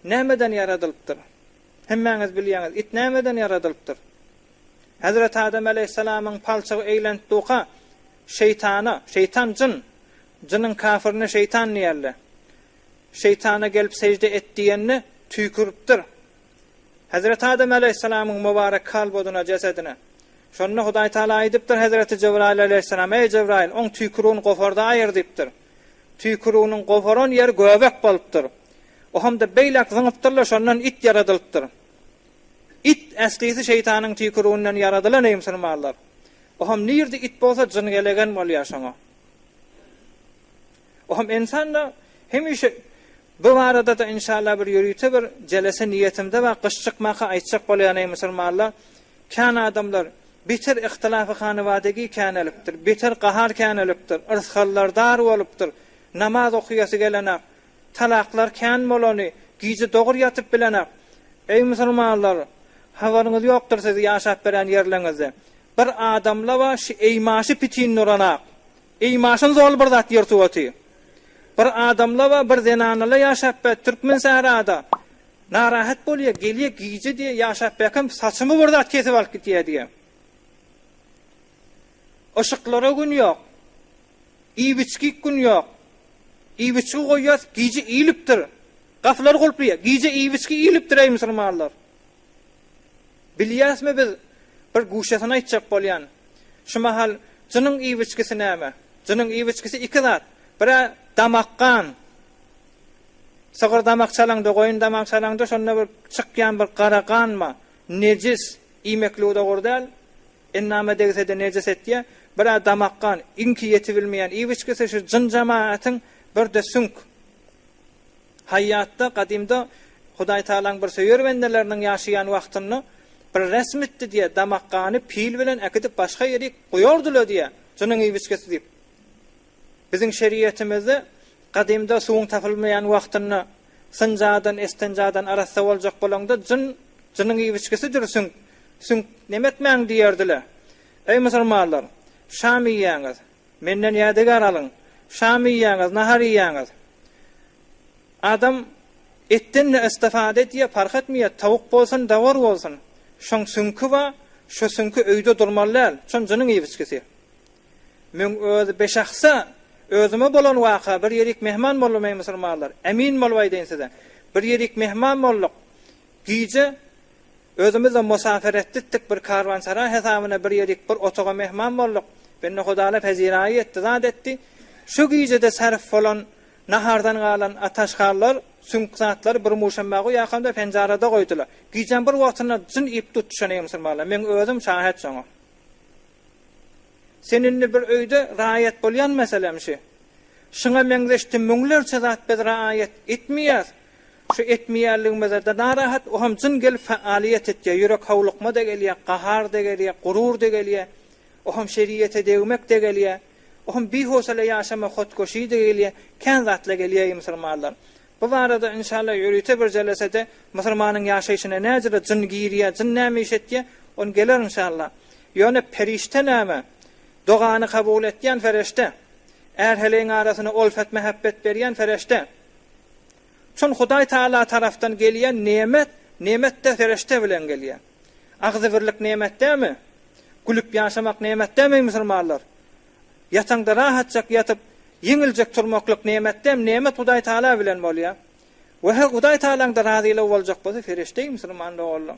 nämeden ýaradylypdyr? Hemmäňiz bilýäňiz it nämeden ýaradylypdyr? Hezreti Adam aleýhissalamyň palçygy eýlenip duka şeýtana, şeýtan jyn, jynyň kafirine şeýtan diýerler. Şeýtana gelip sežde et diýende tüýküripdir. Hezreti Adam aleýhissalamyň mubarek kalbodyna, jesedine. Şonda Hudaý Tagala aýdypdyr Hezreti Jebraýyl aleýhissalama, Eý Jebraýyl, oň tüýkürügini goparda aýyr diýipdir. Tüýkürüginiň goparan ýeri göbek bolupdyr. O hemde beýläk zyňypdyr-la şondan it ýaradylypdyr. It, äslisi şeýtanyň tüýkürüginden ýaradylan eý musulmanlar. O hem nirde it bolsa jyn gelegen bolýar şoňa. Ohum ensanda hemişe bu baradada inşallah bir ýörite bir jelese niýetimde bar gyş çykmaka aýtjak bolýan eý musulmanlar kän adamlar beter ihtilafy hanywadagy kän elipdir beter gahar kän elipdir yrsgallar dar bolupdyr namaz okuyasy gelenak talaklar kän bolany gije dogur ýatyp bilenak eý musulmanlar habaryňyz ýokdyr sizi ýaşap beren ýerleňizde bir adamla bar şu eý maşy pitin nuranak Eý maşyn zorly bir zat ýer suwaty. Bir adamlaba bir zenanala ýaşap bä türkmen sährada narahat bolýa gelýä gije diýe ýaşap bäkem saçymy bir zat kesip alyp gitýä diýe. Yşyklara gün ýok. Iýbiçgik gün ýok. Iýbiçgi goýýas gije iýlipdir. Gapylary gulplyýa gije iýbiçgi iýlipdir eý musulmanlar. Bilýäsmi biz bir guşesin aýtjak bolýan. Şu mahal jynyň iwiçgisi näme? Jynyň iwiçgisi iki zat. Bir-ä damak gan. Sygyr damak çalaňda, goýun damak çalaňda şonda bir çykýan bir gara ganma, nejis, iýmeklige dogry däl. Endama degse-de nejis etýär. Bir-ä damak gan. Iňki ýetibilmeýän iwiçgisi şu jyn jemaatyň bir-de süňk. Haýýatda, gadymda Hudaýtagalaň bir söýer bendeleriniň ýaşaýan wagtynda bir resmitdi diýýär, damakgany pil bilen äkidip başga ýerik goýardylar diýýär, junuň iýbiskesi diýip. Biziň şeriýetimizde gadymda suwuň tapylmaýan wagtynda synjadan, estenjadan arassa boljak bolaňda jyn, jynyň iýbiskesidir süňk, süňk nemekmäň diýerdiler. Eý musulmanlar, şam iýýäňiz, Menden ýadygär alyň. Şam iýýäňiz, nahar iýýäňiz. Adam etden-de istifada edýär, parh etmeýär, tawuk bolsun, dawar bolsun. Şoň süňki bar, şo süňki öýde durmaly däl, şon jynyň iýip-içgisi. Meň öz bişahsy özüme bolan waka, bir ýerik mehman boldum, eý, musulmanlar, emin bolup aýdaýyn size. Bir ýerik mehman bolduk. Gije Özümizem musafir etditdik, bir karwansaraý hesabyna bir ýedik, bir otaga mehman bolduk. Bendehudalar hezinaýy etdi, zat etdi. Şo gijede sarp bolan, nahardan galan ataşgallar, süňk zatlary bir muşam bagy ýakamda penjarada goýdular. Gijäň bir wagtynda jyn iýip tutuşan eý musulmanlar, meň özüm şahat şoňa. Sen indi bir öýde raýat bolýan meselem şü. Şuňa meňzeşdi müňlerçe zat biz raýat etmeýäs. Şu etmeýänligimize-de narahat, o hem jyn gelip fa-alyýet etýär, ýürek howlukma-da gelýär, gahar-da gelýär, gurur-da gelýär, o hem şeriýete degmek-de gelýär, o hem bihowsala ýaşama hotgoşy-da gelýär, kän zatla gelýär-eý musulmanlar. Bu barada, inşallah, ýörite bir jelesede musulmanyň ýaşaýşyna näjüre jyn girýär, jyn näme iş etýär, ony geler inşallah. Ýöne perişde näme? Dogany kabul etýän fereşde. Är-heleýiň arasyna olfat-mähebbet berýän fereşde. Şol Hudaý Taala tarapdan gelýän nemet, nemet-de perişde bilen gelýär. Agzybirlik nemet dälmi? Gülüp ýaşamak nemet dälmi, eý musulmanlar? Ýataňda rahatjak ýatyp, ýeňiljek turmaklyk nemet dälmi? Nemet Hudaý Taala bilen bolýar. Wah, Hudaý Taalaň-da razylygy boljak bolsa, perişde, eý musulman doganlar!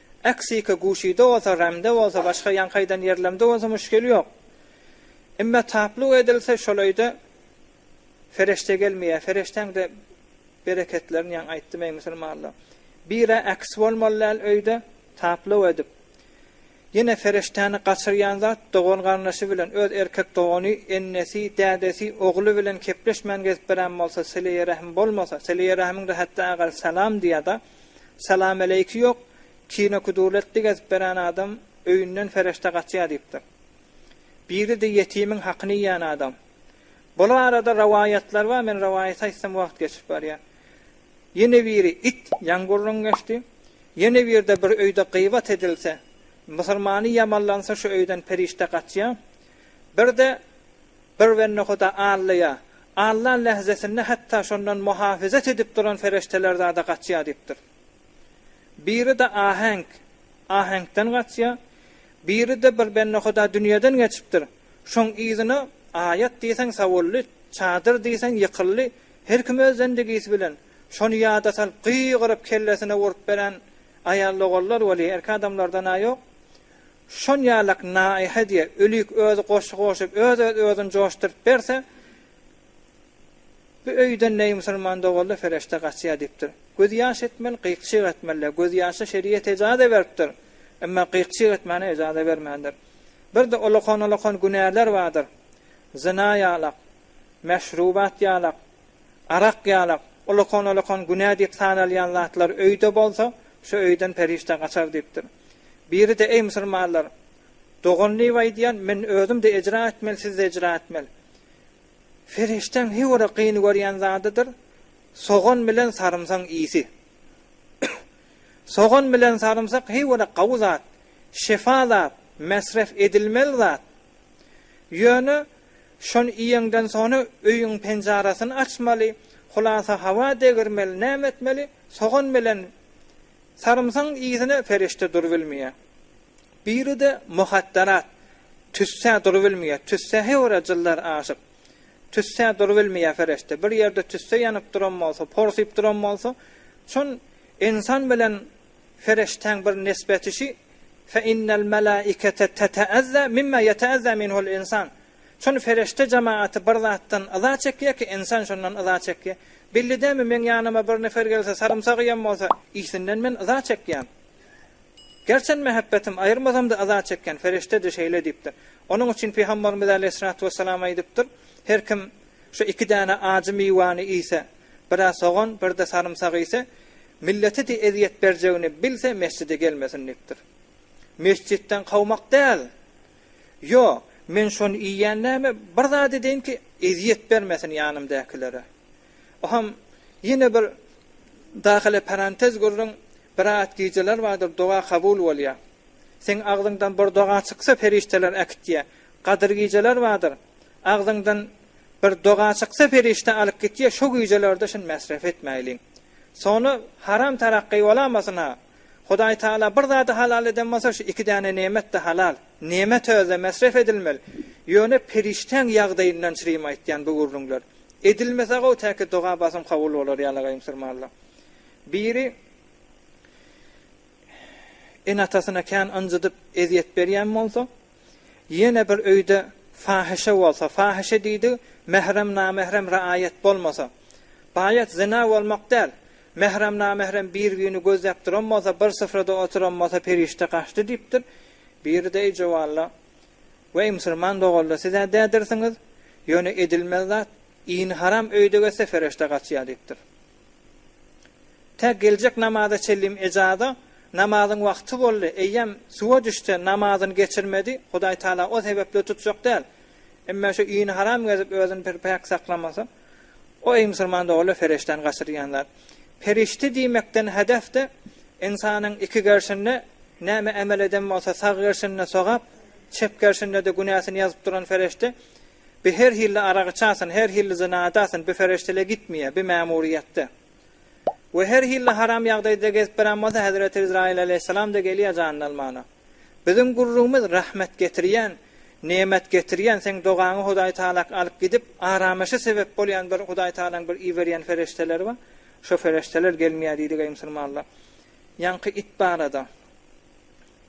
Aksika guşyda bolsa, ramde bolsa, başga ýaňkaýdan ýerlemde bolsa muşkil ýok. Emme tapluk edilse şol öýde fereşte gelmeýär. Fereştäň-de bereketlerini ýaňy aýtdym eý musulmanlar. Bir-ä aks bolmaly däl öýde tapluk edip. Ýene fereştäni gaçyrýan zat dogan-garyndaşy bilen, öz erkek dogany, ennesi, dädesi, ogly bilen kepleşmän gezip bilen bolsa, sileýi-rähm bolmasa, sileýi-rähimiň-de hatda agary salam diýýär-de. Salamaleýki ýok, kinokuduletdi gezip beren adam öýünden ferişde gaçýa diýipdir. Biridi ýetimiň hakyny iýen adam. Bul arada rowaýatlar bar, men rowaýaty aýtsam wagt geçip barýa. Ýene biri it ýaň gürrüň geçdi. Ýene birde bir öýde gybat edilse, musulmany ýamanlansa şu öýden perişde gaçýa. Birde Bir bendehuda Allaýa, Alla lähzesinde hatda şondan muhafyzat edip duran ferişdeler zada gaçýar diýipdir. Biri-de aheňk, aheňkden gaçýar, biri-de bir bendehuda dünýeden geçipdir, şoň yzyna aýat diýseň sawuldy, çadyr diýseň ýykyldy, her kim öz zendigisi bilen, şony ýada salyp gygyryp kellesine urup beren aýal-ogallar weli erki adamlardan-a ýok. Şon ýalak naýha diýe ölik özi goşgy goşup öz öz özün joşdyryp berse bu öýden neý musulman doguldy fereşte gaçýa diýipdir. Göz ýaş etmeli gyk çyk etmelide göz ýaşa şeriýet ejaze beripdir emma gyk çyk etmäne ejaze bermändir. Birde olakan olakan günäler bardyr zyna ýalak meşrubat ýalak Arak, ýalak, ulakan-ulakan günä diýip sanalýan zatlar öýde bolsa, şu öýden perişde gaçar diýipdir. Biri-de, Eý, musulmanlar! Dogan Liw aýdýan, men özüm-de ejra etmeli, siz-de ejra etmeli. Perişdäň hiwiri gyny görýän zadydyr, sogan bilen sarymsaň isi. Sogan bilen sarymsak hiwiri gawy zat, şefa zat, mesref edilmeli zat. Ýöne Şony iýeňden sona öýüň penjarasyny açmaly, hulasa hawa degirmeli näme etmeli, sogan bilen sarymsagyň yzyna perişde durubilmeýär. Biride muhatdarat, tüssä durubilmeýär, tüssä heora jyllar aşyp, tüssä durubilmeýär perişde, bir ýerde tüssä ýanyp duran bolsa, porsyp duran bolsa, şon ensan bilen Feriştäň bir nisbeti şi, Fe innel melaikete teteezza mimma yeteezza minhul insan. Şon ferişte jamagaty bir zatdan yza çekýär ki, insan şondan yza çekýär. Belli dälmi, meň ýanyma bir nefer gelse, sarymsak iýen bolsa, yhsinden men yza çekýän. Gerçen mähebbetim aýyrmazam-da yza çekýän, ferişde-de şeýle diýipdir. Onuň üçin Pygamberimiz aleýhissalatu wessalam aýdypdyr, Her kim şu iki däne ajy miwäni iýse, biraz sogan, bir-de sarymsak iýse, Millete de ezýet berjegini bilse mesjide gelmesin diýipdir. Mesjitden kowmak däl. Ýo, men şony iýýän näme, bir zat edeýin ki, ezýet bermesin ýanymdäkilere. Oham, ýene bir dahile parantez gürrüň, bir aýat gijeler bardyr, doga kabul bolýar. Seň agzyňdan bir doga çyksa perişdeler äkitýär. Gadyr gijeler bardyr, agzyňdan bir doga çyksa perişde alyp gitýär, şo gijelerde şin mesref etmäýliň. Sony haram tarakky bolamasyn-a. Hudaý Tagala bir zady halal eden bolsa şu iki däne nemet-de halal. Nemet özde mesref edilmeli. Ýöne perişdäň ýagdaýyndan çrim aýtýan bu gürrüňler. Edilmese-gowy täki doga basym kabul bolar ýalagaý musurmanlar. Biri ene-atasyna kän ynjydyp ezýet berýän bolsa, Ýene bir öýde fahyşa bolsa, fahyşa diýdigi mährem-namährem raýat bolmasa. Baýat zyna bolmak däl. Mährem-namährem bir-birini gözläp duran bolsa, bir syfrada oturan bolsa perişde gaçdy diýipdir. Biri-de eý jowalla, weý musurman doganlar siz-ä dädirsiňiz, ýöne edilmez zat, ini haram öýde geçse ferişde gaçýar diýipdir. Tä geljek namaza çenlim ejada namazyň wagty boldy, eýýäm suwa düşse namazyny geçirmedi, Hudaý Tagala o sebäpli tutjak däl. Emme şu ini haram gezip özüni bir päk saklamasa, o eý musulman doganlar perişdäni gaçyrýan zat. Perişde diýmekden hedef-de ynsanyň iki gerşinde näme emel eden bolsa sag gerşinde sogap, çep gerşinde-de günäsini ýazyp duran perişde Bi her hilli arag içasyn, her hilli zyna edasyn, bi fereştele gitmiýe, bi mämuriýetde. We her hilli haram ýagdaýda gezip berän bolsa hezreti Izraýyl aleýhissalam-da gelýä janyny almana. Biziň gürrüňimiz rahmet getirýän, nemet getirýän, seň dogaňy Hudaý Taalaky alyp gidip, arameşe sebep bolýan bir Hudaý Taalaň bir iberýän fereşteleri bar, şo fereşteler gelmiýä diýdi geý musulmanlar. Ýaňky it barada.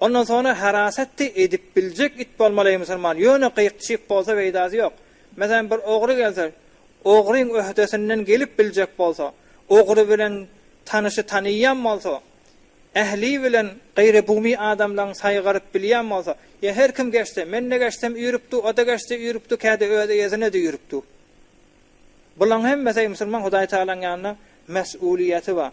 Ondan soňra harasatdy edip biljek it bolmaly musulman ýöne gyk çyk bolsa peýdasy ýok. Meselem bir ogry gelse ogryň öhdesinden gelip biljek bolsa, ogry bilen tanyşy tanyýan bolsa, ähli bilen gaýrybugmy adamlaň saýgaryp bilýän bolsa, ýa her kim geçse, mende geçsem üýrüpdi, oda geçse üýrüpdi, käde özi ýezinede üýrüpdi. Bulaň hemmesi musulman Hudaýtagalaň ýanynda mesulyýeti bar.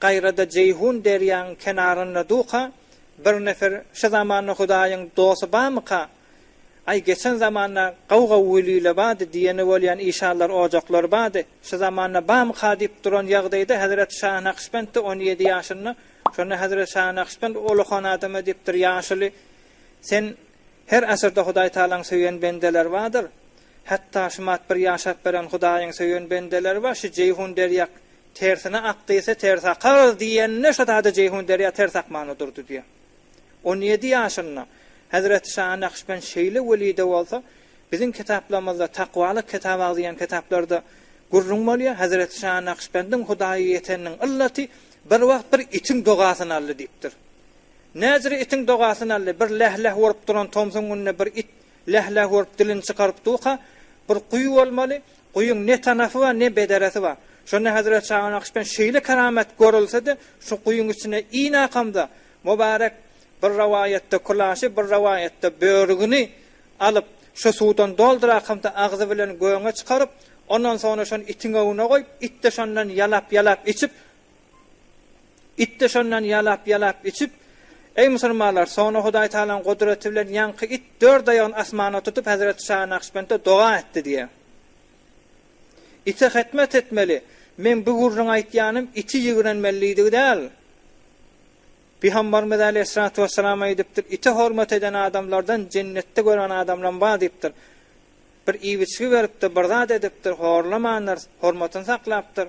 Gaýrada Jeýhun derýaň kenarynda duka bir nefer şu zamanda Hudaýyň dosty bamyka? Aý geçen zamanda gaw-gaw wiliyle bady diýeni bolýan işanlar ojaklar bady şu zamanda bamyka diýip duran ýagdaýda Hezreti Şah Nakşbentde on ýedi ýaşynda şonda Hezreti Şah Nakşbent Ullahan adam edipdir ýaşuly sen her asyrda Hudaý Tagalaň söýen bendeler badyr hatda şumat bir ýaşap beren Hudaýyň söýen bendeleri bar şu Jeýhun derýak Tersine akdiyse ters akarys diyende şazade Ceyhun derya ters akman odurdy diye. On yedi yaşynda Hazreti Şaha Nakşbend şeyle welide bolsa bizin kitaplamyzda Takvalyk kitab agziyan kitaplarda gurrun bolya Hazreti Şaha Nakşbendin Hudaya yeteninin yllati bir wagt bir itin dogasyn aldy diyipdir. Najri itin dogasyn aldy bir leh leh olup duran tomsun günde bir it leh leh olup dilini çykaryp duka bir guyu bolmaly Guýyň ne tanapy bar, ne bedarasy bar. Şonda Hezret Şagynakyşdan şeýle keramat görülse-de, şu guýyň içine inakamda, Mubarek bir rowaýatda kulaşy, bir rowaýatda börügini alyp, şu suwdan doldurakamda agzy bilen göňe çykaryp, ondan soňra şony itiň öňüne goýup, it-de şondan ýalap-ýalap içip, It-de şondan ýalap-ýalap içip, Eý, musulmanlar, soňra Hudaý Tagalaň gudraty bilen ýaňky it dört aýagyny asmana tutup, hezreti Şa Nakşbende doga etdi diýýär. Ite hytmat etmeli, meň bu gürrüň aýtýanym iti ýigrenmelidigi däl. Pygamberimiz äleyhissalatu wesselam aýdypdyr, Ite hormat eden adamlardan jennetde gören adamlam bar diýipdir. Bir iwiçgi beripdir, bir zat edipdir, horlamandyr, hormatyny saklapdyr.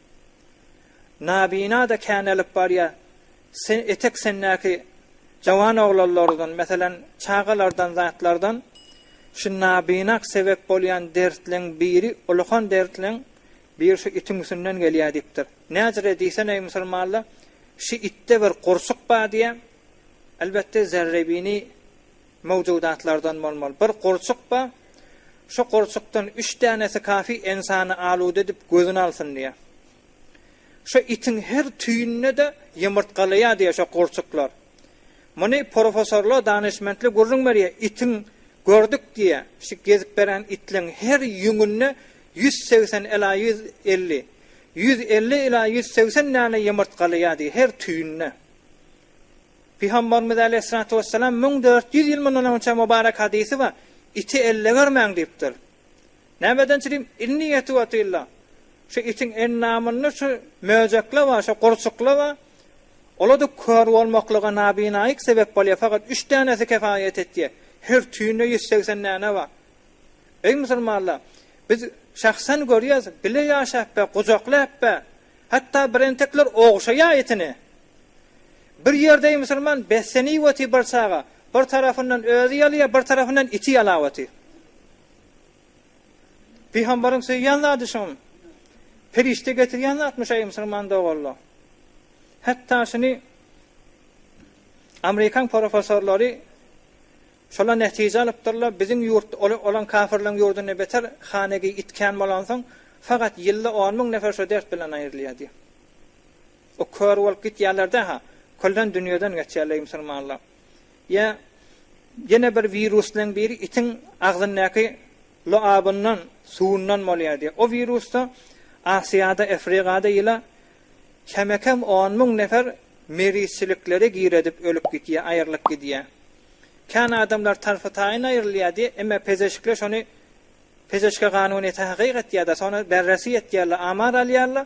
Nabina-da kän alyp barýar. Sen etek sendäki jawan oglanlardan, meselem, çagalardan zatlardan şu nabina sebäp bolýan dertleň biri, ullakan dertleň biri şu itiň üstünden gelýär diýipdir. Näcirä diýsen, eý musulmanlar, şu itde bir gurçuk bar diýýär. Elbetde, zerrebini Mowjudatlardan bolmaly. Bir gurçuk bar. Şu gurçukdan üç dänesi kafi ynsany aluda edip gözüni alsyn diýýär. Şu itiň her tüýünde-de ýumurtgalaýar diýýär şu gurçuklar. Muny professorlar, danyşmentler gürrüň berýär. Itiň gördük diýýär. Şu gezip beren itleň her ýüňünde ýüz segsen ila ýüz elli, ýüz elli ila ýüz segsen däne ýumurtgalaýar diýýär her tüýünde. Pygambarymyz aleýhissalatu wessalam müň dört ýüz ýyl mundan öňçä mubarek hadysy bar, Iti elle görmäň diýipdir. Nämedençi diýdim, Inni ýetu atilla. Şu itiň endamynda şu möjekler bar, şu gurçuklar bar. Olarda kör bolmaklyga nabinaýyk sebep bolýar, fakat üç dänesi kefaýet etýär. Her tüýünde ýüz segsen däne bar. Eý musulmanlar, biz şahsan görýäris, bile ýaşap ber, gujaklap ber. Hatda birentekler ogşaýar itini. Bir ýerdeý musulman beslenýweti bir çaga, bir tarafyndan özi ýalýa, bir tarafyndan iti ýalaweti. Pygamberiň söýýän zady şum. Perişde getirýän zatmy şeý musulman doganlar. Hatda şuny Amerikan professorlary şola netije alypdyrlar, biziň ýurt olan kafirleň ýurdunda beter hanegi itkän bolansoň, fakat ýylda on müň nefer şo dert bilen aýrylýar diýip. O kör bolup gitýärler daha küllen dünýeden geçýärler eý musulmanlar. Ýa ýene bir wirusleň biri itiň agzyndaky luabyndan, suwundan bolýar diýýär. O wirusda Asiýada, Efrigada ýyla kemekem on müň nefer merizçilikleri giredip ölüp gitýär, aýrylyp gidýär. Kän adamlar tarpy-taýyn aýrylýar diýýär, emma pezeşikler şony pezeşke ganunyýete hakyk etýärler, sonra berresi ýetýärler, amar alýarlar,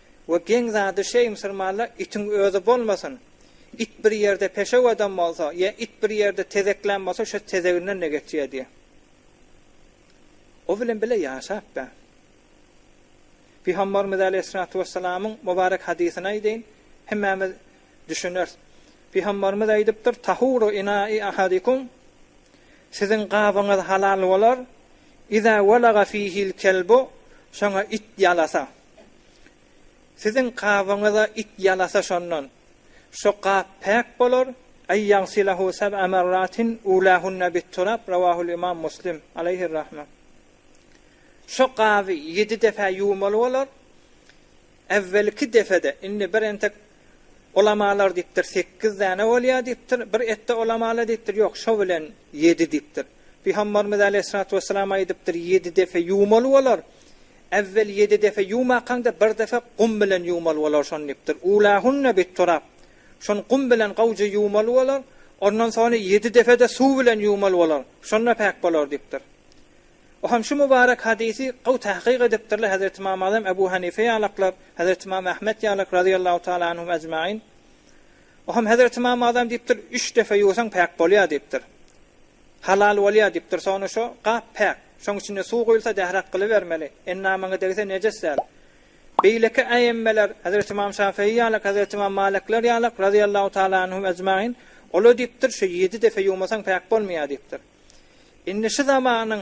We geň zady şeý musulmanlar itiň özi bolmasyn. It bir ýerde peşew adam bolsa, ýa it bir ýerde tezeklän bolsa şo tezeginden-de geçýär diýýär. O bilen bile ýaşap ber. Pygambarymyz aleýhissalatu wessalamyň mubarek hadysyny aýdaýyn, hemmämiz düşüneris. Pygambarymyz aýdypdyr, Tahuru inai ahadikum Siziň gabyňyz halal bolar, iza walaga fihil kelbu şoňa it ýalasa. Siziň gabyňyza it ýalasa şondan. Şo gap päk bolar, Ey ýagsylahu seb'a merratin ulâhunne bit turab rawahul imam Muslim, aleyhir rahme. Şo gaby ýedi depä ýuwmaly bolar, Ewwelki depede, indi bir entek ulamalar diýipdir, sekiz däne bolýar diýipdir, bir etde ulamalar diýipdir, ýok, şo bilen ýedi diýipdir. Pygamberimiz aleýhissalatu wesselam aýdypdyr, ýedi depe ýuwmaly bolar. Äwwel ýedi depe ýuwmakaňda bir depe gum bilen ýuwmaly bolar şony diýipdir. Ulahunna bitturab. Şony gum bilen gowja ýuwmaly bolar, ondan sony ýedi depede suw bilen ýuwmaly bolar, şonda päk bolar diýipdir. Bu hem şu mubarek hadysy gowy tahkyk edipdirler Hezreti Imam Azam Ebu Hanife ýalaklar, Hezreti Imam Ahmet ýalak razyýallahu taala anhum ejmain. Bu hem Hezreti Imam Azam diýipdir, üç depe ýuwsaň päk bolýar diýipdir. Halal bolýar diýip dursa ony şo gap päk. Şoň içinde suw guýulsa dährak gylybermeli. Endamyňa degse nejes däl. Beýleki äemmeler, Hezreti Ymam Şafyýy ýalak, Hezreti Ymam Malykler ýalak, razyýallahu taala anhum ejmain, olar diýipdir, şo ýedi depe ýuwmasaň päk bolmaýar diýipdir. Indi şu zamanyň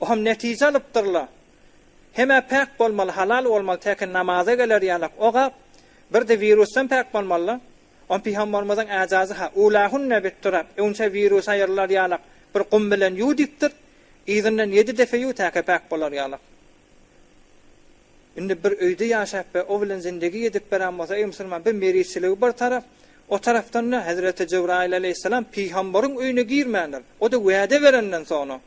O hem netije alypdyr-la. Hem-ä päk bolmaly, halal bolmaly, täki namaza geler ýalak. O-ha bir-de wirusdan päk bolmaly-la. Ony pygambarymyzyň äjazy-ha, Ulahunne bit-turab, öňçe wirusa ýyrylar ýalak, bir gum bilen ýuw diýipdir. Yzyndan ýedi depe ýuw, täki päk bolar ýalak. Indi bir öýde ýaşap we o bilen zindegi ýedip beren bolsa, eý musulman, bir merizçiligi bir tarap, o tarapdan-da Hezreti Jybraýyl aleýhissalam pygambaryň öýüne girmändir. O-da wäde berenden soňra.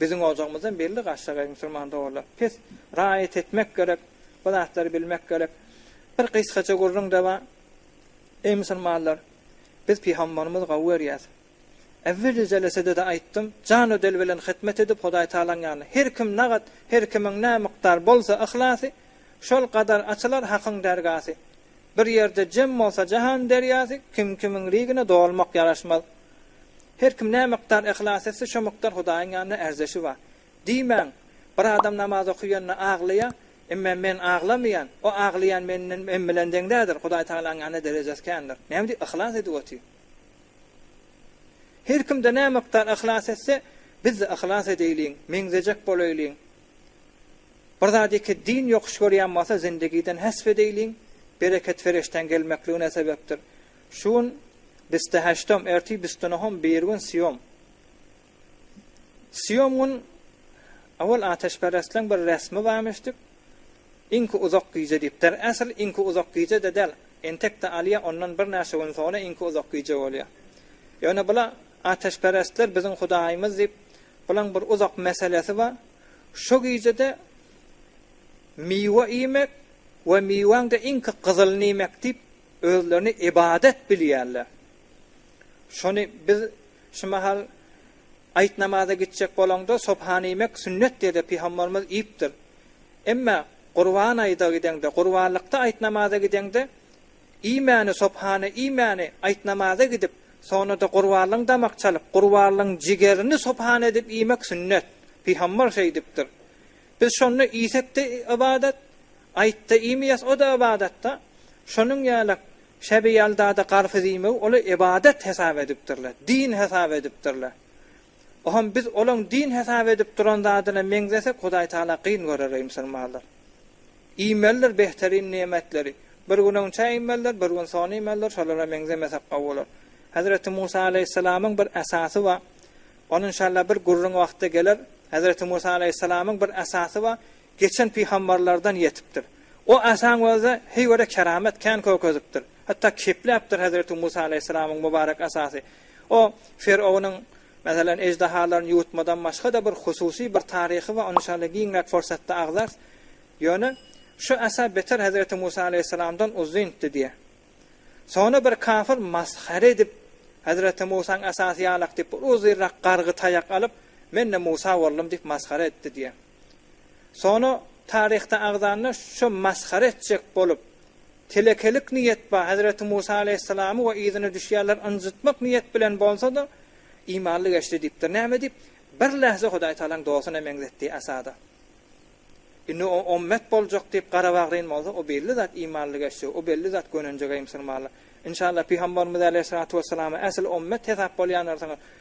Biziň ojagymyzdan belli Gashagaý musulman doganlar. Pes raýat etmek gerek, bu zatlary bilmek gerek. Bir gysgaça gürrüň-de bar. Eý musulmanlar, biz pygambarymyzy gowy görýäs. Äwweli jelesede-de aýtdym, jan we dil bilen hyzmat edip Hudaý Tagalaň ýanyna her kim nagat, her kimiň nä mukdar bolsa yhlasy, şol gadar açylar Hakyň dergasy. Bir ýerde jem bolsa jahan derýasy, kim kimiň rigine dolmak ýaraşmaz. Her kim nämikdar yhlas etse, şo mukdar Hudaýyň ýanynda ärzeşi bar. Diýmäň, bir adam namaz okaýanda aglaýa, emme men aglamaýan, o aglaýan menden men bilen deň däldir, Hudaý Tagalaň ýanynda derejesi kändir. Näme diýip yhlas edip otyr. Her kimde nämikdar yhlas etse, bizde yhlas edeýliň, meňzejek bolaýlyň. Bir zat iki din ýokuş görýän bolsa zindigiden hesp edeýliň, bereket fereştäň gelmekligine sebepdir. Şu gün bisteheştom, erti bistunuhum, birigün siýom. Siýom gün owal ateşperestleň bir resmi barmyşdyk, iňki uzak gije diýip. Der äsl iňki uzak gije-de däl, entekde alýa, ondan bir näçe gün soňra iňki uzak gije bolýa. Ýöne bula ateşperestler biziň hudaýymyz diýip, bulaň bir uzak meselesi bar. Şo gijede miwe iýmek we miweň-de iňki gyzylyny iýmek diýip, özlerini ybadat bilýärler. Şony biz şu mahal aýt namaza gitjek bolaňda sopany iýmek sünnet diýdi, pygamberimiz iýipdir. Emma gurban aýda gideňde, gurbanlykda aýt namaza gideňde, Iýmäni, sopany iýmäni, aýtnamaza gidip, soňra-da gurbanlygyň damak çalyp, gurbanlygyň jigerini sopan edip iýmek sünnet. Pygambar şeýdipdir. Biz şonda iýsek-de ybadat, aýtda iýmeýäs, o-da ybadat-da. Şonuň ýaly Şäbi ýaldada garpyz iýmegi olar ybadat hesap edipdirler, din hesap edipdirler. Oham biz olaň din hesap edip duran zadyna meňzesek Hudaý Taala gyn görer eýmsirmazlar. Iýmelidir behterin niýmetleri. Bir gün onça iýmelidir, bir gün sony iýmelidir, şolara meňzemesek gowy bolar. Hazreti Musa Aleýhissalamyň bir esasy ba, ony inşallah bir gürrüň wagtda geler, Hazreti Musa Aleýhissalamyň bir esasy ba, geçen pygambarlardan ýetipdir. O esaň özi heý göre keramet kän kökezipdir. Hatda kepläpdir Hazreti Musa Aleýhissalamyň mubarek esasy. O, Firognyň, meselem, eždahalaryny ýuwutmadan başga-da bir hususy bir taryhy bar, ony inşallah giňräk fursatda agzars. Ýöne, şu Asa beter Hezreti Musa alaýhyssalamdan uzyndy diýýär. Soňra bir kafir masgara edip, Hezreti Musaň asasy ýalak diýip, bir uzynrak gargy taýak alyp, Men-de Musa boldum diýip masgara etdi diýýär. Sona taryhda agzanda şo masgara etjek bolup, telekelik niýet ba Hezreti Musa Aleýhissalamy we yzyna düşýärler ynjytmak niýet bilen bolsada imanly geçdi diýipdir. Näme diýip? Bir lähze Hudaý Tagalaň dostuna meňzetdi Asada. Indi o ommet boljak diýip gara bagryn bolsa o belli zat imanly geçdi, o belli zat gönenjegeý musulmanly. Inşallah Pygambarymyz Aleýhissalatu Wessalama äsl ommet hesap bolýanlarsyňyz.